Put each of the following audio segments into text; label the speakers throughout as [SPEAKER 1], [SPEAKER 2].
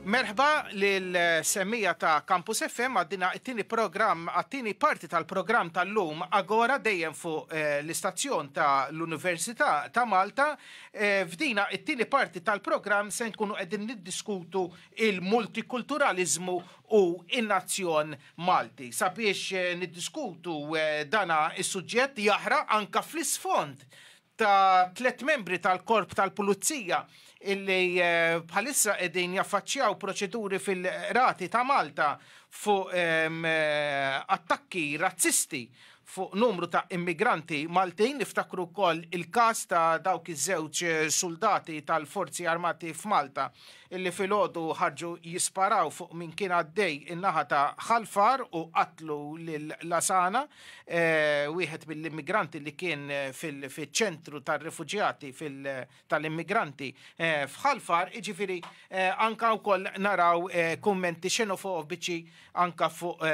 [SPEAKER 1] Merħba lil semmija ta' Campus FM għaddina it-tieni programm għat-tieni parti tal-programm tal-lum Agora dejjem fuq eh, l-istazzjon ta' l-Università ta' Malta. Eh, f'dina it-tieni parti tal-programm se nkunu qegħdin niddiskutu il-multikulturalizmu u in-nazzjon Malti. Sabiex eh, niddiskutu dana is-suġġett jahra anka fl-isfond ta' tliet membri tal-korp tal-pulizija illi eh, bħalissa qegħdin jaffaċċjaw proċeduri fil-rati ta' Malta fuq ehm, eh, attakki razzisti fuq numru ta' immigranti Maltin niftakru wkoll il-każ ta' dawk iż-żewġ eh, soldati tal-Forzi Armati f'Malta illi filgħodu ħarġu jisparaw fuq min kien għaddej in-naħa ta' Ħal Far u qatlu lil Lasana, wieħed mill-immigranti li kien fiċ-ċentru tar-refuġjati tal-immigranti f'Ħal Far, jiġifieri anke wkoll naraw kummenti xenofobiċi anke fuq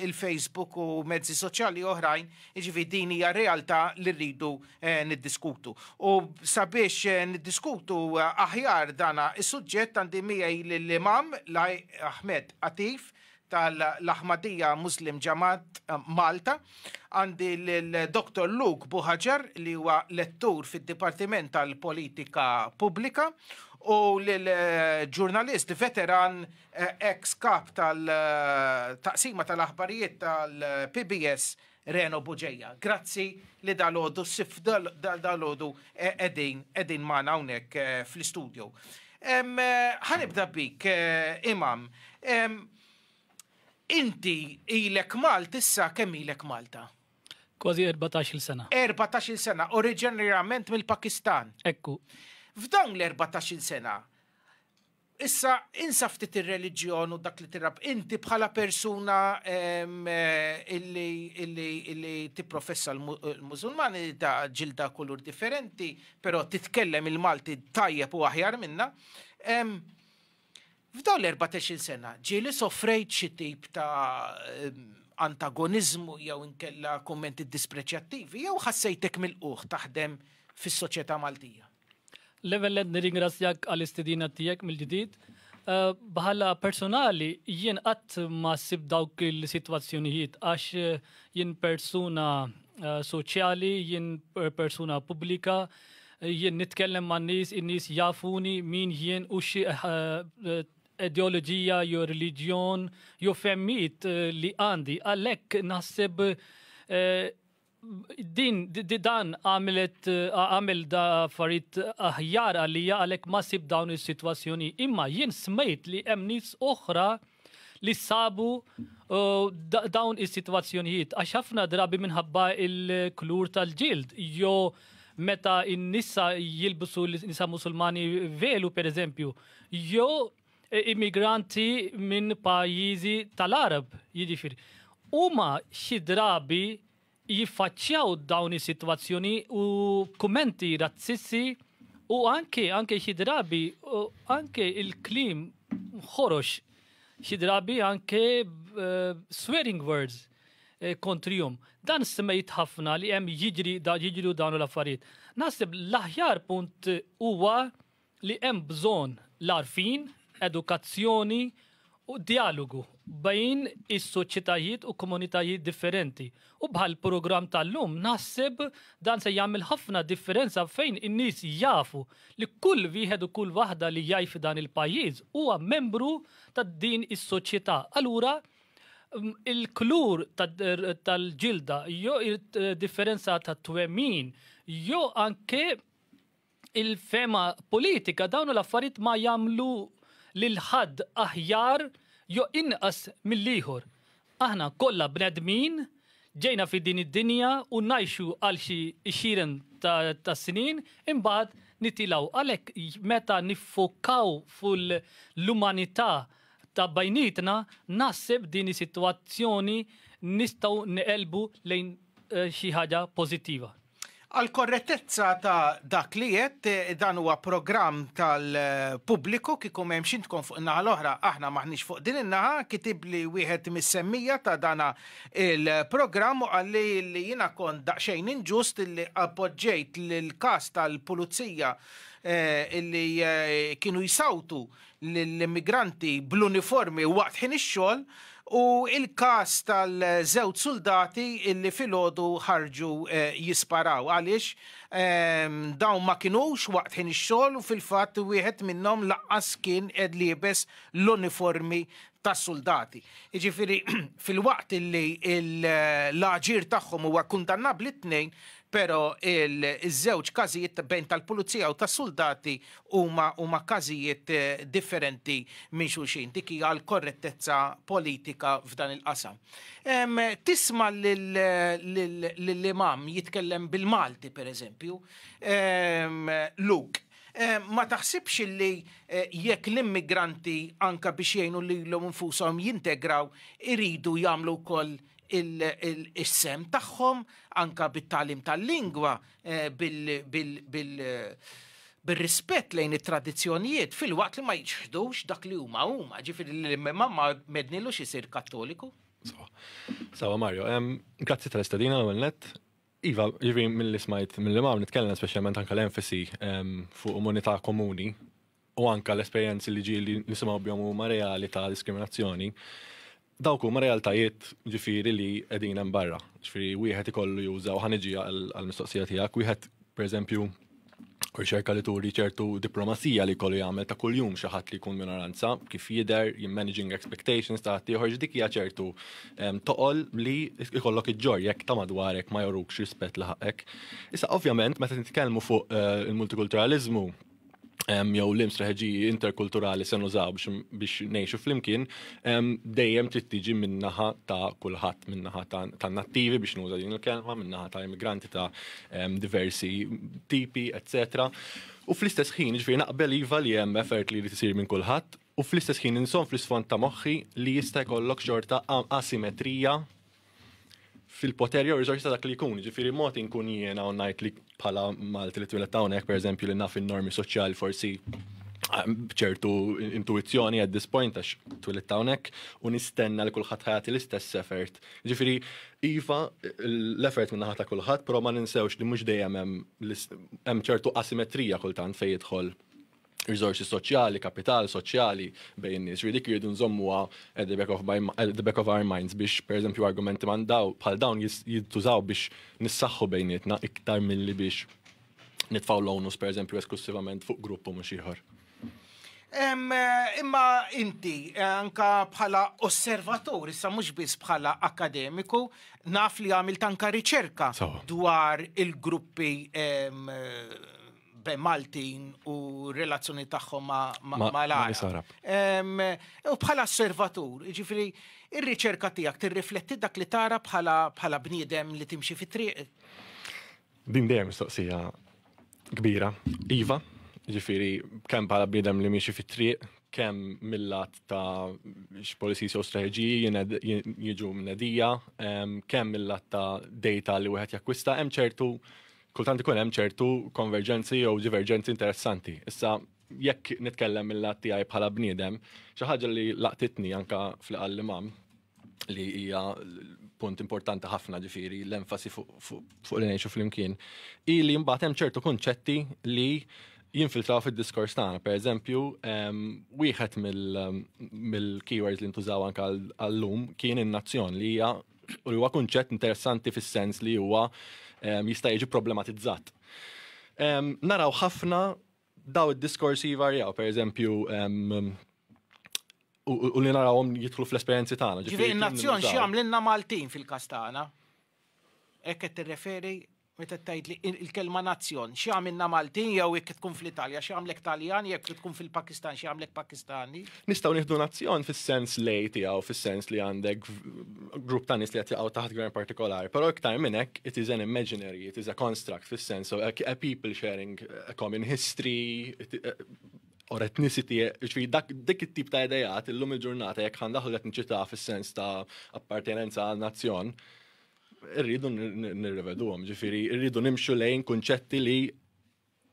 [SPEAKER 1] il-Facebook u mezzi soċjali oħrajn, jiġifieri din hija realtà li rridu Eh, niddiskutu. U sabiex eh, niddiskutu eh, aħjar dana is-suġġett għandi miegħi l-Imam Laj Ahmed Atif tal-Ahmadija Muslim Ġamat Malta, għandi l-Dr. Luke Buħaġar li huwa lettur fid-Dipartiment tal-Politika Pubblika u l-ġurnalist veteran ex kap tal-taqsima tal-aħbarijiet tal-PBS Reno Bugeja. Grazzi li dalgħodu ssib dalgħodu qegħdin qegħdin magħna hawnhekk fl-istudju. Ħanibda bik, Imam. Inti ilek Malt issa kemm ilek Malta? Kważi
[SPEAKER 2] 14-il sena. 14-il sena,
[SPEAKER 1] oriġinarjament mill-Pakistan. Ekku.
[SPEAKER 2] F'dawn l-14-il
[SPEAKER 1] sena, Issa insa ftit ir-reliġjon u dak li tirrab inti bħala persuna illi tipprofessa l-Mużulmani ta' ġilda kulur differenti, però titkellem il-Malti tajjeb u aħjar minna. F'dawn l-14 sena ġieli sofrejt xi tip ta' antagoniżmu jew inkella kummenti dispreċjattivi jew ħassejtek milqugħ taħdem fis-soċjetà Maltija? Level Ed
[SPEAKER 2] nirringrazzjak għall-istedina tiegħek mill-ġdid. Eh, bħala personali jien qatt ma sib dawk il-sitwazzjonijiet għax eh, jien persuna eh, soċjali, jien persuna pubblika, jien nitkellem ma' nies, in-nies jafuni min jien u xi ideoloġija jew reliġjon jew femmit li għandi. Għalhekk naħseb Din dan għamilet għamil da farit aħjar għalija għalhekk ma sib dawn is-sitwazzjoni. Imma jien smejt li hemm nies oħra li sabu uh, dawn is-sitwazzjonijiet għax ħafna drabi minħabba il-klur tal-ġild jo meta in-nisa jilbsu l-nisa musulmani velu per eżempju, jo e, immigranti minn pajjiżi tal-Arab, jiġifieri. Huma xi drabi jiffaċċjaw dawn is-sitwazzjoni u kummenti razzissi u anke anke xi drabi anke il-klim ħorox xi drabi anke eh, swearing words eh, kontrihom. Dan semmejt ħafna li hemm jiġri da jiġru dawn l-affarijiet. Naħseb l-aħjar punt huwa li hemm bżonn l-għarfien, edukazzjoni u djalogu bejn is-soċjetajiet u komunitajiet differenti. U bħall-programm tal-lum naħseb dan se jagħmel ħafna differenza fejn in-nies jafu li kull wieħed u kull waħda li jgħix f'dan il-pajjiż huwa membru ta' din is-soċjetà. Allura il-klur tal-ġilda jew differenza ta' twemmin jew anke il-fehma politika dawn l-affarijiet ma jagħmlu lil ħadd aħjar jo inqas mill-ieħor. Aħna kollha bnedmin ġejna fi din id-dinja u ngħixu għal xi xiren ta' snin imbagħad nitilaw. Għalhekk meta niffokaw fuq l-umanità ta' bajnietna naħseb din is-sitwazzjoni nistgħu neqelbu lejn eh, xi ħaġa pożittiva.
[SPEAKER 1] Għall-korrettezza ta' dak li għedt, dan huwa programm tal-pubbliku kieku m'hemm xintkom fuq in-naħa l-oħra, aħna m'aħniex fuq din in-naħa, kitibli wieħed mis-semmija ta' dana il-programm u qalli li jiena kont daqsxejn inġust li appoġġejt l-każ tal-pulizija li kienu jsawtu lill-immigranti bl-uniformi waqt ħin ix-xogħol u l-każ tal-żewġ suldati li filgħodu ħarġu jisparaw għaliex dawn ma kinux waqt ħin ix-xogħol u fil-fatt wieħed minnhom lanqas kien qed liebes l-uniformi tas-suldati. Jiġifieri filwaqt li l-aġir tagħhom huwa kundannabbli t-tnejn Pero iż-żewġ każijiet bejn tal-pulizija u tas-suldati huma huma każijiet differenti minn xulxin. Dik hija l-korrettezza politika f'dan il-qasam. Tisma' lill-imam jitkellem bil-Malti pereżempju, Luke, ma taħsibx illi jekk l-immigranti anke biex jgħinu lilhom infushom jintegraw iridu jagħmlu wkoll is-sehem tagħhom anke bit-tagħlim tal-lingwa bir-rispett lejn it-tradizzjonijiet filwaqt li ma jiċħdux dak li huma huma, ġifieri li l-imma ma mednilux isir Kattoliku.
[SPEAKER 3] Sawa Mario, grazzi tal-istadina l net. Iva, ġivi mill-li smajt mill-li ma' nitkellem specialment anka l-enfasi fuq umanità komuni u anka l-esperjenzi li ġieli nisimgħu bihom huma reali ta' diskriminazzjoni, dawk huma realtajiet ġifieri li qegħdin hemm barra. Ġifieri wieħed ikollu juża u ħaniġi għall-mistoqsija tiegħek, wieħed pereżempju riċerka li turi ċertu diplomazija li kollu jagħmel ta' kuljum xi ħadd li jkun minoranza, kif jidher, managing expectations ta' ħaddieħor dik hija ċertu ehm, toqol li jkollok iġġor jekk ta' madwarek ma jorukx rispett li ħaqek. Issa ovvjament meta nitkellmu fuq eh, il-multikulturaliżmu jew l strateġiji interkulturali se nużaw biex ngħixu flimkien dejjem trid tiġi min-naħa ta' kulħadd, min-naħa ta' nattivi biex nuża din il-kelma, min-naħa ta' immigranti ta' diversi tipi, etc. U fl-istess ħin, ġifieri naqbel iva li hemm effort li jrid isir minn kulħadd, u fl-istess ħin inżomm fl-isfond ta' moħħi li jista' jkollok xorta asimetrija fil-poter jew riżorsi ta' dak li jkun. Ġifieri mod inkun jiena u ngħid li bħala Malti li twilet hawnhekk pereżempju li naf in-normi soċjali forsi ah, ċertu intuizzjoni at this point għax twilet hawnhekk u nistenna li kulħadd ħajati l-istess effort. Ġifieri iva l-effort minn ta' kulħadd, però ma ninsewx li mhux dejjem hemm ċertu asimetrija kultant fejn jidħol riżorsi soċjali, kapital soċjali bejn in-nies. Ġifieri dik irridu nżommuha at the back of my at the back of our minds biex pereżempju argumenti man daw bħal dawn jis- jintużaw biex nissaħħu bejnietna iktar milli biex nitfgħu l-onus pereżempju esklussivament fuq grupp u mhux ieħor. Em, eh, Imma
[SPEAKER 1] inti, eh, anka bħala osservatur, issa mhux biss bħala akademiku, naf li għamilt anka riċerka Sawa. dwar il-gruppi em, eh, bejn Maltin u relazzjoni tagħhom ma' l-Arab. U bħala osservatur, ġifiri, ir-riċerka tiegħek tirrifletti dak li tara bħala bniedem li timxi fit-triq.
[SPEAKER 3] Din dejjem mistoqsija kbira. Iva, ġifiri, kemm bħala bniedem li miexi fit-triq, kemm mill-lat ta' x-policies jew strategiji jiġu mnedija, kemm mill-lat ta' data li wieħed jakkwista, hemm ċertu kultant ikun hemm ċertu konverġenzi jew diverġenzi interessanti. Issa jekk nitkellem mill-lat tiegħi bħala bniedem, xi ħaġa li laqtitni anka fl-qal imam li hija punt importanti ħafna ġifiri l-enfasi fuq li ngħixu flimkien, hi li mbagħad hemm ċertu kunċetti li jinfiltraw fid-diskors tagħna. Per eżempju, ehm, wieħed ehm, mill-keywords li ntużaw anke għall-lum kien in-nazzjon li hija U li huwa kunċett interessanti fis-sens li huwa ehm, jista' jiġi problematizzat. Ehm, naraw ħafna daw id-diskorsi varjaw, per eżempju, ehm, u li narawhom jidħlu fl-esperjenzi tagħna. Ġifieri n-nazzjon
[SPEAKER 1] x'jagħmlilna Maltin fil-każ tagħna? Hekk qed tirreferi Meta tgħidli il-kelma nazzjon, xi għamilna Maltin jew jekk tkun fl-Italja, xi għamlek Taljan jekk tkun fil-Pakistan, xi għamlek Pakistani? Nistgħu nieħdu nazzjon
[SPEAKER 3] fis-sens lej tiegħu, fis-sens li għandek grupp ta' nies li qed jaqgħu taħt gvern partikolari, però iktar minn hekk it is an imaginary, it is a construct fis-sens of a people sharing a common history, or ethnicity, ġifiri dak dik it-tip ta' idejat illum il-ġurnata jekk ħandaħlu qed nċita fis-sens ta' appartenenza għal nazzjon, Irridu nirreveduhom, ġifieri irridu nimxu lejn kunċetti li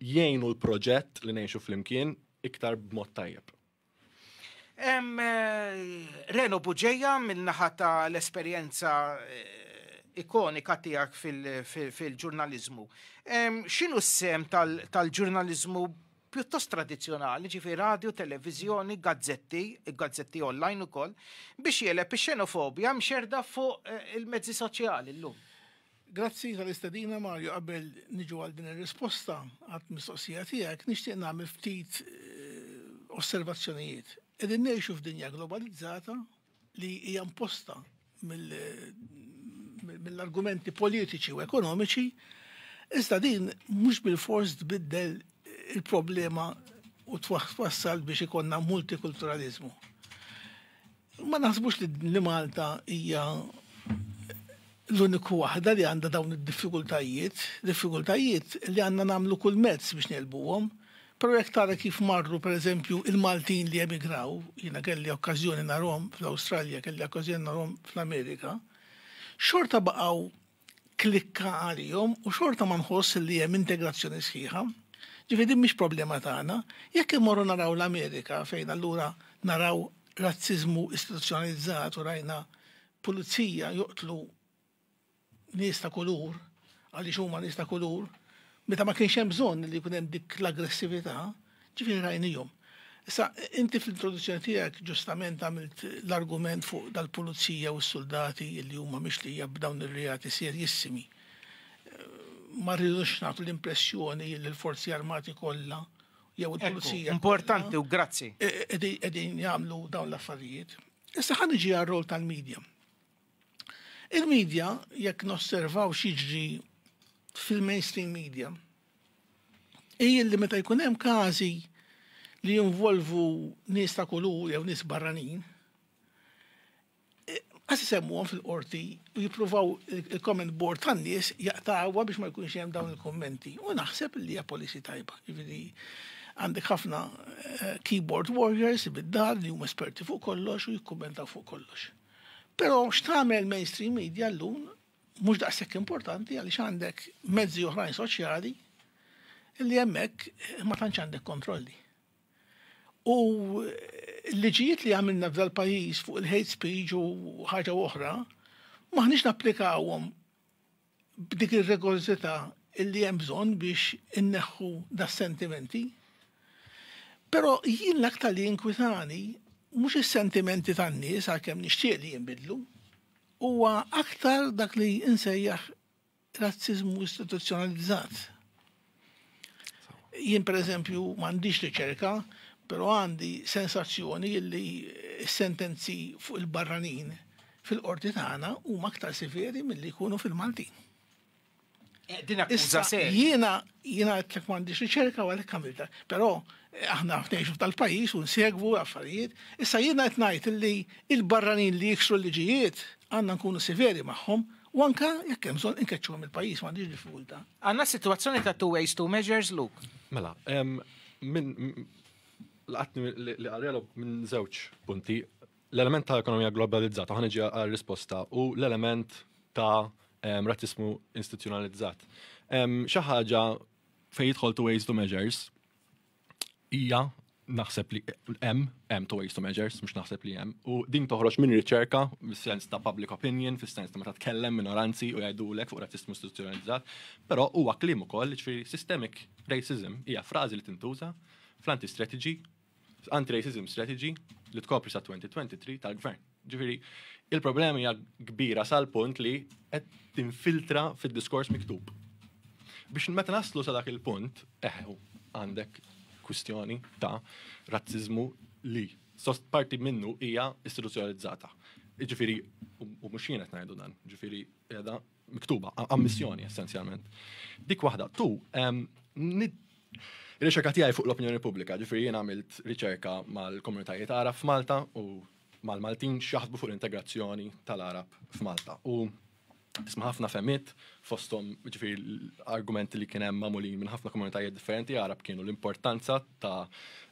[SPEAKER 3] jgħinu l-proġett li ngħixu flimkien iktar b'mod tajjeb. Em,
[SPEAKER 1] eh, Reno Buġeja minnaħa ta' l-esperienza eh, ikonika tijak fil-ġurnalizmu. Xinu s-sem tal-ġurnalizmu pjuttost tradizzjonali, ġifi radju, televiżjoni, gazzetti, gazzetti online ukoll, biex jeleb ix-xenofobja mxerda fuq eh, il-mezzi soċjali llum. Grazzi
[SPEAKER 4] tal-istadina Mario qabel niġu għal din ir-risposta għat mistoqsija tiegħek nixtieq nagħmel ftit eh, osservazzjonijiet. Qegħdin ngħixu f'dinja globalizzata li hija imposta mill-argumenti politiċi u ekonomiċi, iżda din mhux bil-fors tbiddel il-problema u twassal biex ikonna multikulturalizmu. Ma naħsbux li Malta hija l-uniku waħda li għandha dawn id-diffikultajiet, diffikultajiet li għandna nagħmlu kull mezz biex nelbuhom, Però jekk tara kif marru, per eżempju, il-Maltin li emigraw, jiena kelli okkażjoni narhom fl-Awstralja, kelli okkażjoni narhom fl-Amerika, xorta baqgħu klikka għalihom u xorta ma nħoss li hemm integrazzjoni sħiħa. Ġifieri din mhix problema tagħna. Jekk immorru naraw l-Amerika fejn allura naraw razziżmu istituzzjonalizzat u rajna pulizija joqtlu nies ta' kulur, għaliex huma nies ta' kulur, meta ma kienx hemm bżonn li jkun hemm dik l-aggressività, ġifieri rajnihom. Issa, inti fl-introduzzjoni tiegħek ġustament għamilt l-argument fuq dal-pulizija u s-suldati li huma mixlija b'dawn ir-reati serjissimi. Ma rridux nagħtu l-impressjoni li l-forzi armati kollha jew il-pulizija. Importanti u grazzi.
[SPEAKER 1] Qegħdin
[SPEAKER 4] jagħmlu dawn l-affarijiet. Issa ħa niġi għar-rol tal-medja. Il-media, jekk nosservaw x'jiġri fil-mainstream media, hi li meta jkun hemm każi li jinvolvu nies ta' kulur jew nies barranin, Għas isemmuhom fil-qorti u jippruvaw il-comment board tan-nies jaqtawha biex ma jkunx hemm dawn il-kummenti. U naħseb li hija policy tajba. Jiġifieri għandek ħafna eh, keyboard warriors bid-dar li huma esperti fuq kollox u jikkummentaw fuq kollox. Però x'tagħmel mainstream media llum mhux daqshekk importanti għaliex għandek mezzi oħrajn soċjali li hemmhekk ma tantx għandek kontrolli. U l-liġijiet li għamilna f'dal pajjiż fuq il-hate speech u ħaġa oħra, maħniex napplikawhom b'dik ir-rigorżità li hemm bżonn biex inneħħu das-sentimenti. Però jien l-aktar li jinkwitani mhux is-sentimenti tan-nies għalkemm nixtieq li jinbidlu, huwa aktar dak li insejjaħ razziżmu istituzzjonalizzat. Jien per eżempju m'għandix riċerka, però għandi sensazzjoni li sentenzi fuq il-barranin fil-qorti tagħna huma aktar severi milli jkunu fil-Maltin.
[SPEAKER 1] Eh, din akkuża serja. Jiena jiena qed
[SPEAKER 4] m'għandix riċerka u għalhekk għamilta. Però eh, aħna ngħixu tal-pajjiż u nsegwu affarijiet. Issa jiena qed ngħid li il-barranin li jiksru l-liġijiet għandna nkunu severi magħhom U anka jekk hemm bżonn inkeċċuhom il-pajjiż m'għandix diffikultà. Għandna sitwazzjoni
[SPEAKER 1] ta' two ways, two measures, Luke. Mela,
[SPEAKER 3] minn laqatni li għarjelu minn żewġ punti. L-element ta' ekonomija globalizzata ħana ġi għal risposta u l-element ta' razzismu istituzzjonalizzat. Xi ħaġa fejn jidħol two ways, two measures, hija naħseb li hemm hemm to ways to measures, mhux naħseb li hemm. U din toħroġ minn riċerka fis-sens ta' public opinion, fis-sens ta' meta tkellem minoranzi u jgħidulek fuq razzismu istituzzjonalizzat, però huwa kliem ukoll ġifieri systemic racism hija frażi li tintuża fl-anti-strategy, anti-racism strategy li tkopri sa 2023 tal-gvern. Ġifieri, il-problema hija kbira sal-punt li qed tinfiltra fid-diskors miktub. Biex meta naslu sa dak il-punt, eħu, għandek kwistjoni ta' razzizmu li sost parti minnu hija istituzzjonalizzata. Ġifieri, u mhux jien qed ngħidu dan, ġifieri qiegħda miktuba, ammissjoni essenzjalment. Dik waħda, tu, riċerka tiegħi fuq l-opinjoni pubblika, ġifieri jien għamilt riċerka mal-komunitajiet għara f'Malta u mal-Maltin x'jaħsbu fuq l-integrazzjoni tal-Għarab f'Malta. U tisma' ħafna femiet fosthom ġifieri l-argumenti li kien hemm magħmulin minn ħafna komunitajiet differenti Għarab kienu l-importanza ta'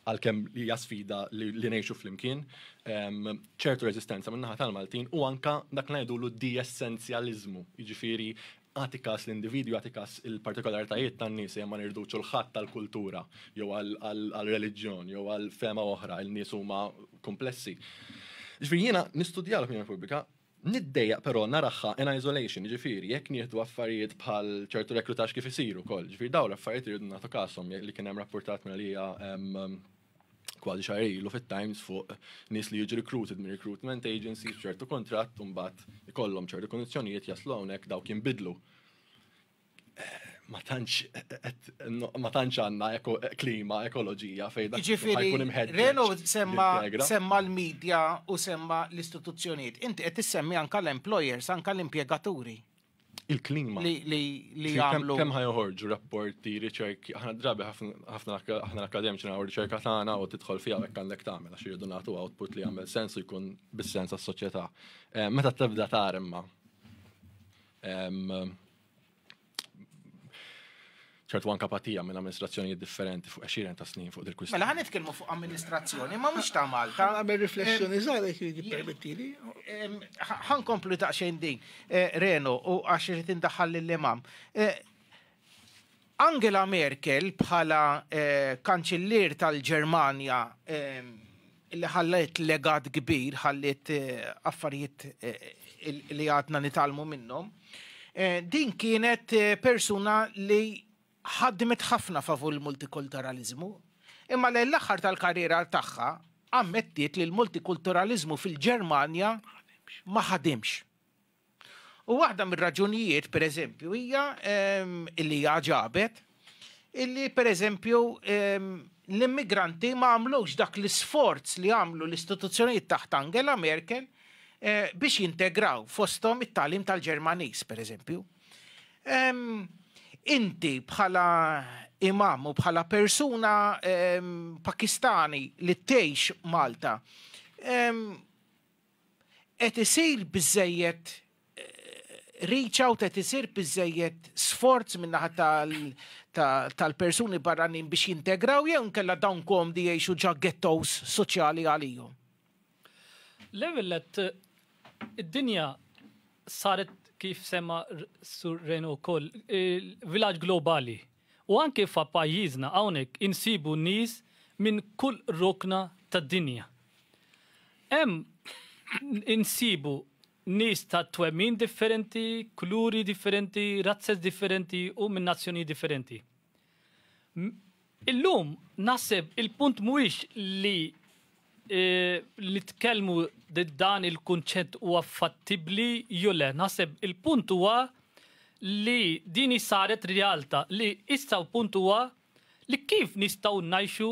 [SPEAKER 3] għalkemm li hija sfida li ngħixu flimkien ċertu reżistenza min-naħa tal-Maltin u anka dak ngħidulu d-diesenzjaliżmu, jiġifieri Agħti kas l-individwi, agħti kas il-partikolaritajiet tan-nies ejja ma nirdux ċulħadd għal kultura jew għal reliġjon jew għal fema oħra, il-nies huma kumplessi. Ġifieri jiena nistudja l-opinjoni pubblika, niddejjaq però naraħħa in isolation, ġifieri jekk nieħdu affarijiet bħal ċertu reklutax kif isiru wkoll, ġifieri dawn l-affarijiet irridu nagħtu kasom li kien hemm rapportat minn għalija kważi xahar ilu fit-Times fuq nies li jiġu recruited minn recruitment agency ċertu kontratt u mbagħad ikollhom ċertu kondizzjonijiet jaslu hawnhekk dawk jinbidlu. Eh, ma tantx ma tantx għandna klima ekoloġija fejn dak jiġifieri jkun imħedded. Reno semma
[SPEAKER 1] semma l-medja u semma l-istituzzjonijiet. Inti qed issemmi anke l-employers, anke l-impjegaturi. Il-klima.
[SPEAKER 3] Li
[SPEAKER 1] jagħmlu. Kemm ħajħorġu
[SPEAKER 3] rapporti, riċerki, aħna drabi ħafna aħna l-akademiċi nagħmlu riċerka tagħna u tidħol fiha hekk għandek tagħmel għax irridu nagħtu output li jagħmel sens u jkun bis-sens għas-soċjetà. Eh, meta tibda tara imma ċertu anka patija minn amministrazzjonijiet differenti fuq għexieren ta' snin fuq dil-kwistjoni. Mela ħan nitkellmu fuq
[SPEAKER 1] amministrazzjoni, ma mhux ta' Malta. Għamel riflessjoni
[SPEAKER 4] żgħar jekk jiġi permettili.
[SPEAKER 1] Ħan komplu daqsxejn din. Eh, Reno, u għax irid indaħħal lill-imam. Eh, Angela Merkel bħala eh, kanċillier tal-Ġermanja li ħalliet legat kbir, ħalliet affarijiet li għadna nitgħallmu minnhom, din kienet persuna li ħadmet ħafna favur il-multikulturaliżmu, imma lejn l-aħħar tal-karriera tagħha ammettiet li l-multikulturaliżmu fil-Ġermanja ma ħadimx. U waħda mir-raġunijiet, per eżempju, hija illi hija ġabet illi per eżempju l-immigranti ma għamlux dak l-isforz li għamlu l-istituzzjonijiet taħt Angela Merkel eh, biex jintegraw fostom it-talim tal-Ġermanis, per eżempju. Inti bħala imam u bħala persuna pakistani li tgħix Malta, qed isir biżżejjed reach out, qed isir biżżejjed sforz min-naħa tal-persuni barranin biex jintegraw jew inkella dawn komdi jgħixu ġa ghettos soċjali għalihom?
[SPEAKER 2] L-ewwel nett id-dinja saret kif semma Sur Reno wkoll vilaġġ globali. U anke fa pajjiżna hawnhekk insibu nies minn kull rokna tad-dinja. Hemm insibu nies ta' twemmin differenti, kuluri differenti, razzez differenti u minn nazzjonijiet differenti. Illum naħseb il-punt mhuwiex li li tkellmu dan il-kunċett huwa fattibbli jew le. Naħseb il-punt huwa li din saret realtà li issa l-punt huwa li kif nistgħu ngħixu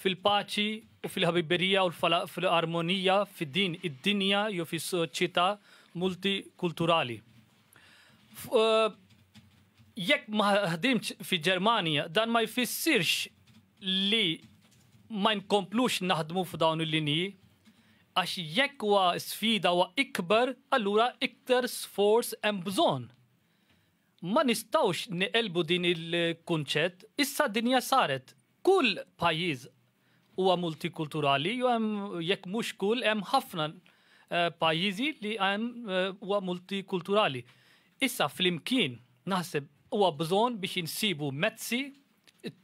[SPEAKER 2] fil-paċi u fil-ħabiberija u fil-armonija f'din id-dinja jew fis-soċjetà multikulturali. Jekk ma ħdimx fi Ġermanja, dan ma jfissirx li ma nkomplux naħdmu f'dawn il-linji, għax jekk huwa sfida huwa ikbar, allura iktar sforz hemm bżonn. Ma nistawx niqelbu din il-kunċett, issa dinja saret Kull pajjiż huwa multikulturali, jew hemm jekk mhux kull hemm ħafna eh, pajjiżi li hemm eh, huwa multikulturali. Issa flimkien naħseb huwa bżonn biex insibu mezzi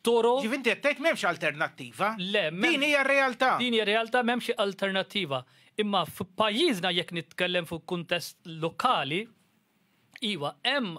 [SPEAKER 2] toro. Ġif inti qed tgħid m'hemmx
[SPEAKER 1] alternattiva. Le, din hija
[SPEAKER 2] realtà.
[SPEAKER 1] Din hija realtà m'hemmx
[SPEAKER 2] alternattiva. Imma f'pajjiżna jekk nitkellem fuq kuntest lokali, iva hemm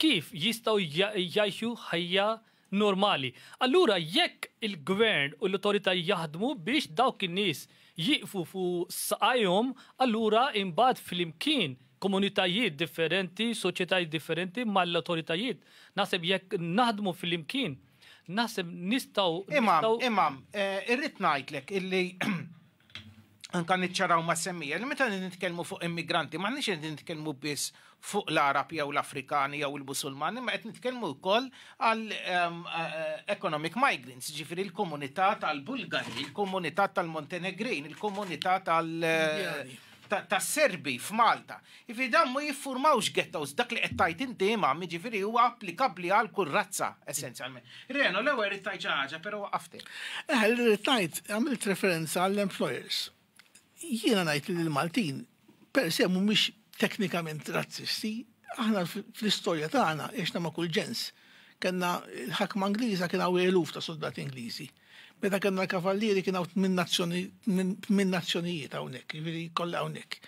[SPEAKER 2] kif jistgħu jgħixu ħajja normali. Allura jekk il-gvern u l-awtoritajiet jaħdmu biex dawk in-nies jieqfu fuq saqajhom, allura imbagħad flimkien, komunitajiet differenti, soċjetajiet differenti mal-awtoritajiet, naħseb jekk naħdmu flimkien, naħseb nistgħu, nistgħu. Imam, Imam,
[SPEAKER 1] irrid ngħidlek illi anka niċċaraw ma' semmija li meta nitkellmu fuq immigranti m'aħniex qed nitkellmu biss fuq l-Arab jew l-Afrikani jew il-Musulmani, ma qed nitkellmu wkoll għal ehm, eh, economic migrants, ġifieri l-komunità tal-Bulgari, il-komunità tal-Montenegrin, il-komunità tal- eh, tas-Serbi f'Malta. Jiġifieri dawn ma jiffurmawx ghettos, dak li qed tgħid inti Imam, jiġifieri huwa applikabbli għal kull razza essenzjalment. Reno, l-ewwel rrid tgħid xi ħaġa, però waqqaftek. Eħe, li rrid ngħid,
[SPEAKER 4] għamilt referenza għall-employers. Jiena ngħid li l-Maltin per se mhumiex teknikament razzisti, aħna fl-istorja tagħna għexna ma' kull ġens. Kenna l-ħakma Ingliża kien hawn eluf ta' soldati Ingliżi. Meta kellna l-kavallieri kien hawn tmien nazzjonijiet hawnhekk, jiġifieri kollha hawnhekk.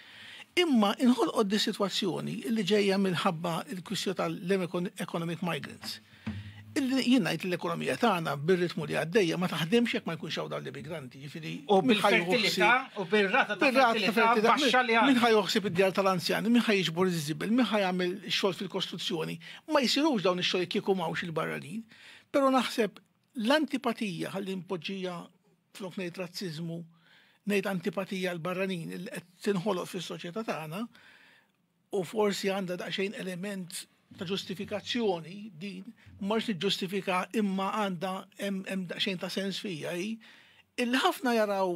[SPEAKER 4] Imma inħolqot di sitwazzjoni li ġejja minħabba l-kwistjoni tal-economic migrants. Illi jien ngħid l-ekonomija tagħna bir-ritmu li għaddejja ma taħdimx jekk ma jkunx hawn dawn l-immigranti, jiġifieri u
[SPEAKER 1] bil-fertilità u bir-rata ta' fertilità baxxa li għandna. Min ħa joħsib id-djar
[SPEAKER 4] tal-anzjani, min ħa jiġbor iż-żibel, min ħa jagħmel xogħol fil-kostruzzjoni. Ma jsirux dawn ix-xogħlijiet kieku m'hawnx il-barranin. Però naħseb L-antipatija, ħalli npoġġija flok ngħid razziżmu, ngħid antipatija għal barranin li qed tinħoloq fis-soċjetà tagħna u forsi għandha daqsxejn element ta' ġustifikazzjoni din mhux niġġustifika imma għandha hemm daqsxejn ta' sens fija hi il ħafna jaraw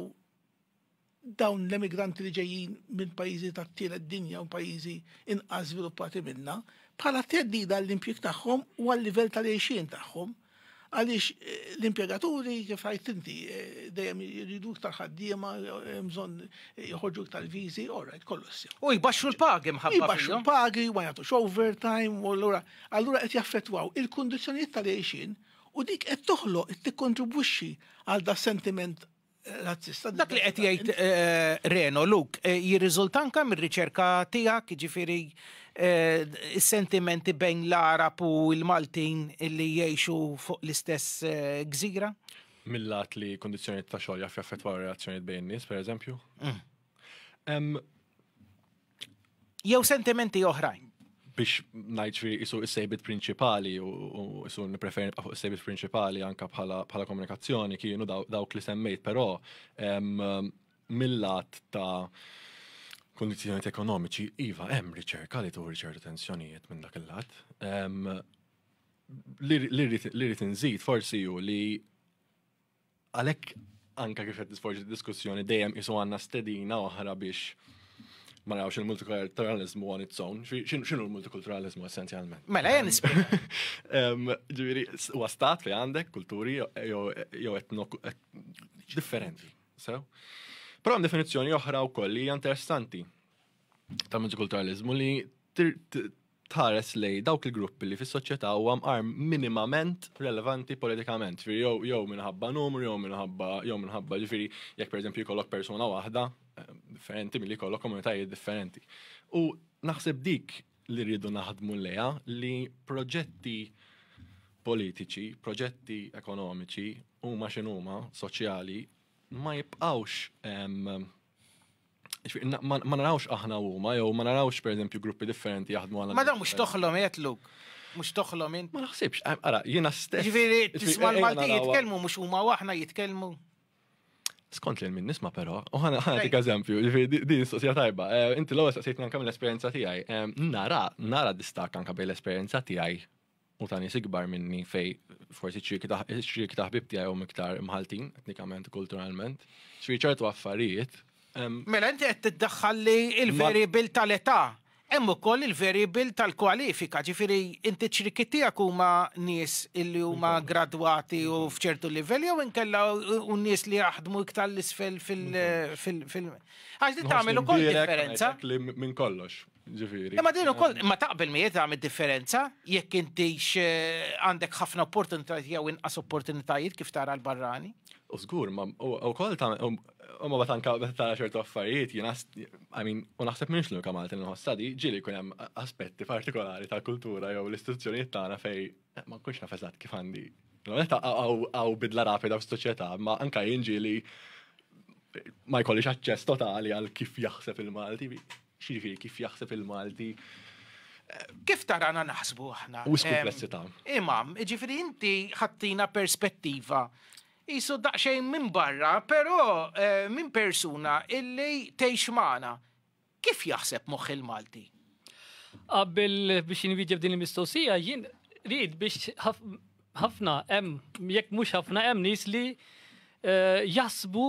[SPEAKER 4] dawn l-emigranti li ġejjin minn pajjiżi tat-tielet dinja u pajjiżi inqas żviluppati minna bħala teddida għall-impjieg tagħhom u għal-livell tal-għejxien tagħhom. Għaliex eh, l-impjegaturi kif għajt inti eh, dejjem jridu iktar ħaddiema, eh, bżonn jħorġu iktar viżi, orajt kollox. U jbaxxu l-pagi
[SPEAKER 1] mħabba. Jbaxxu l-pagi, ma
[SPEAKER 4] jagħtux overtime, u allura allura qed jaffettwaw il-kundizzjonijiet tal-għejxin u dik qed toħloq qed tikkontribwixxi għal da sentiment Dak li qed jgħid
[SPEAKER 1] Reno Luk jirriżulta anke mir-riċerka tiegħek, jiġifieri s-sentimenti bejn l-Għarab u l-Maltin li jgħixu fuq l-istess gżira? Mill-lat
[SPEAKER 3] li kundizzjonijiet ta' xogħol jaf jaffettwaw ir-relazzjonijiet bejn in-nies, pereżempju.
[SPEAKER 1] jew sentimenti oħrajn. Biex
[SPEAKER 3] ngħid fi isu s-sejbit prinċipali u isu nippreferi nibqa' fuq is-sejbit prinċipali anke bħala komunikazzjoni kienu dawk li semmejt, però mill-lat ta' kondizjoniet ekonomiċi, iva, hemm riċerka li turi ċertu tensjonijiet minn dak il-lat. Li rrid inżid forsi ju li Għalhekk anke kif qed tisforġi d-diskussjoni dejjem qisu għandna stedina oħra biex ma narawx il-multikulturalizmu on its own. X'inhu l-multikulturalizmu essenzjalment? Mela jien
[SPEAKER 1] Ġifieri
[SPEAKER 3] huwa stat li għandek kulturi jew etno differenti. Sew? Però hemm definizzjoni oħra wkoll li hija interessanti tal-multikulturalizmu li tħares lejn dawk il-gruppi li fis-soċjetà huwa mqar minimament relevanti politikament, ġifieri jew jew minħabba numru jew minħabba jew minħabba ġifieri jekk pereżempju jkollok persuna waħda eh, differenti milli jkollok komunitajiet differenti. U naħseb dik li rridu naħdmu lejha li proġetti politiċi, proġetti ekonomiċi huma x'inhuma soċjali ma jibqgħux Ma narawx aħna huma jew ma narawx pereżempju gruppi differenti jaħdmu għal. Ma dan mhux toħlom
[SPEAKER 2] jetluk. Mhux toħlom int. Ma naħsibx, eh, ara, jiena
[SPEAKER 3] stess. Ġifieri tisma' l-Malti
[SPEAKER 2] jitkellmu mhux huma aħna jitkellmu.
[SPEAKER 3] Skont li minn nisma però, u ħana ħana dik eżempju, ġifieri din sosja tajba. Eh, inti l-ewwel saqsejtni anke mill-esperjenza tiegħi. Eh, nara, nara distak anke bejn l-esperjenza tiegħi u ta' nies ikbar minni fej forsi ċirki ta' ħbib tiegħi hum iktar mħaltin etnikament kulturalment. Ġifieri ċertu affarijiet. Mela inti
[SPEAKER 1] qed tiddaħħal li l-variabil tal-età hemm ukoll il-variabil tal-kwalifika, ġifieri inti ċirki tiegħek huma nies illi huma gradwati u f'ċertu livell jew inkella u nies li jaħdmu iktar l-isfel fil- Għax li tagħmel ukoll differenza. Minn kollox,
[SPEAKER 3] Ġifieri. Imma din ukoll ma
[SPEAKER 1] taqbel miegħi tagħmel differenza jekk intix eh, għandek ħafna opportunitajiet jew inqas opportunitajiet kif tara l-barrani. U żgur,
[SPEAKER 3] ma wkoll ta' u ma batanka ta' ċertu affarijiet jiena I mean, u naħseb minx l-unika Malti nħossa di ġieli jkun hemm aspetti partikolari tal-kultura jew l-istituzzjonijiet tagħna fej eh, ma nkunx naf eżatt kif għandi. Għaw bidla rapida f'soċjetà, ma anka jinġieli ma jkollix aċċess totali għal kif jaħseb il-Malti. X'jiġifieri kif jaħseb il-Malti?
[SPEAKER 1] Kif tarana naħsbu aħna? Wis kumplessità.
[SPEAKER 3] Imam, jiġifieri
[SPEAKER 1] inti ħattina perspettiva jisu daqsxejn minn barra, però eh, minn persuna illi tgħix magħna. Kif jaħseb moħħ il-Malti? Qabel
[SPEAKER 2] biex jinwieġeb din il-mistoqsija, jien rrid biex ħafna hemm jekk mhux ħafna hemm nies li eh, jasbu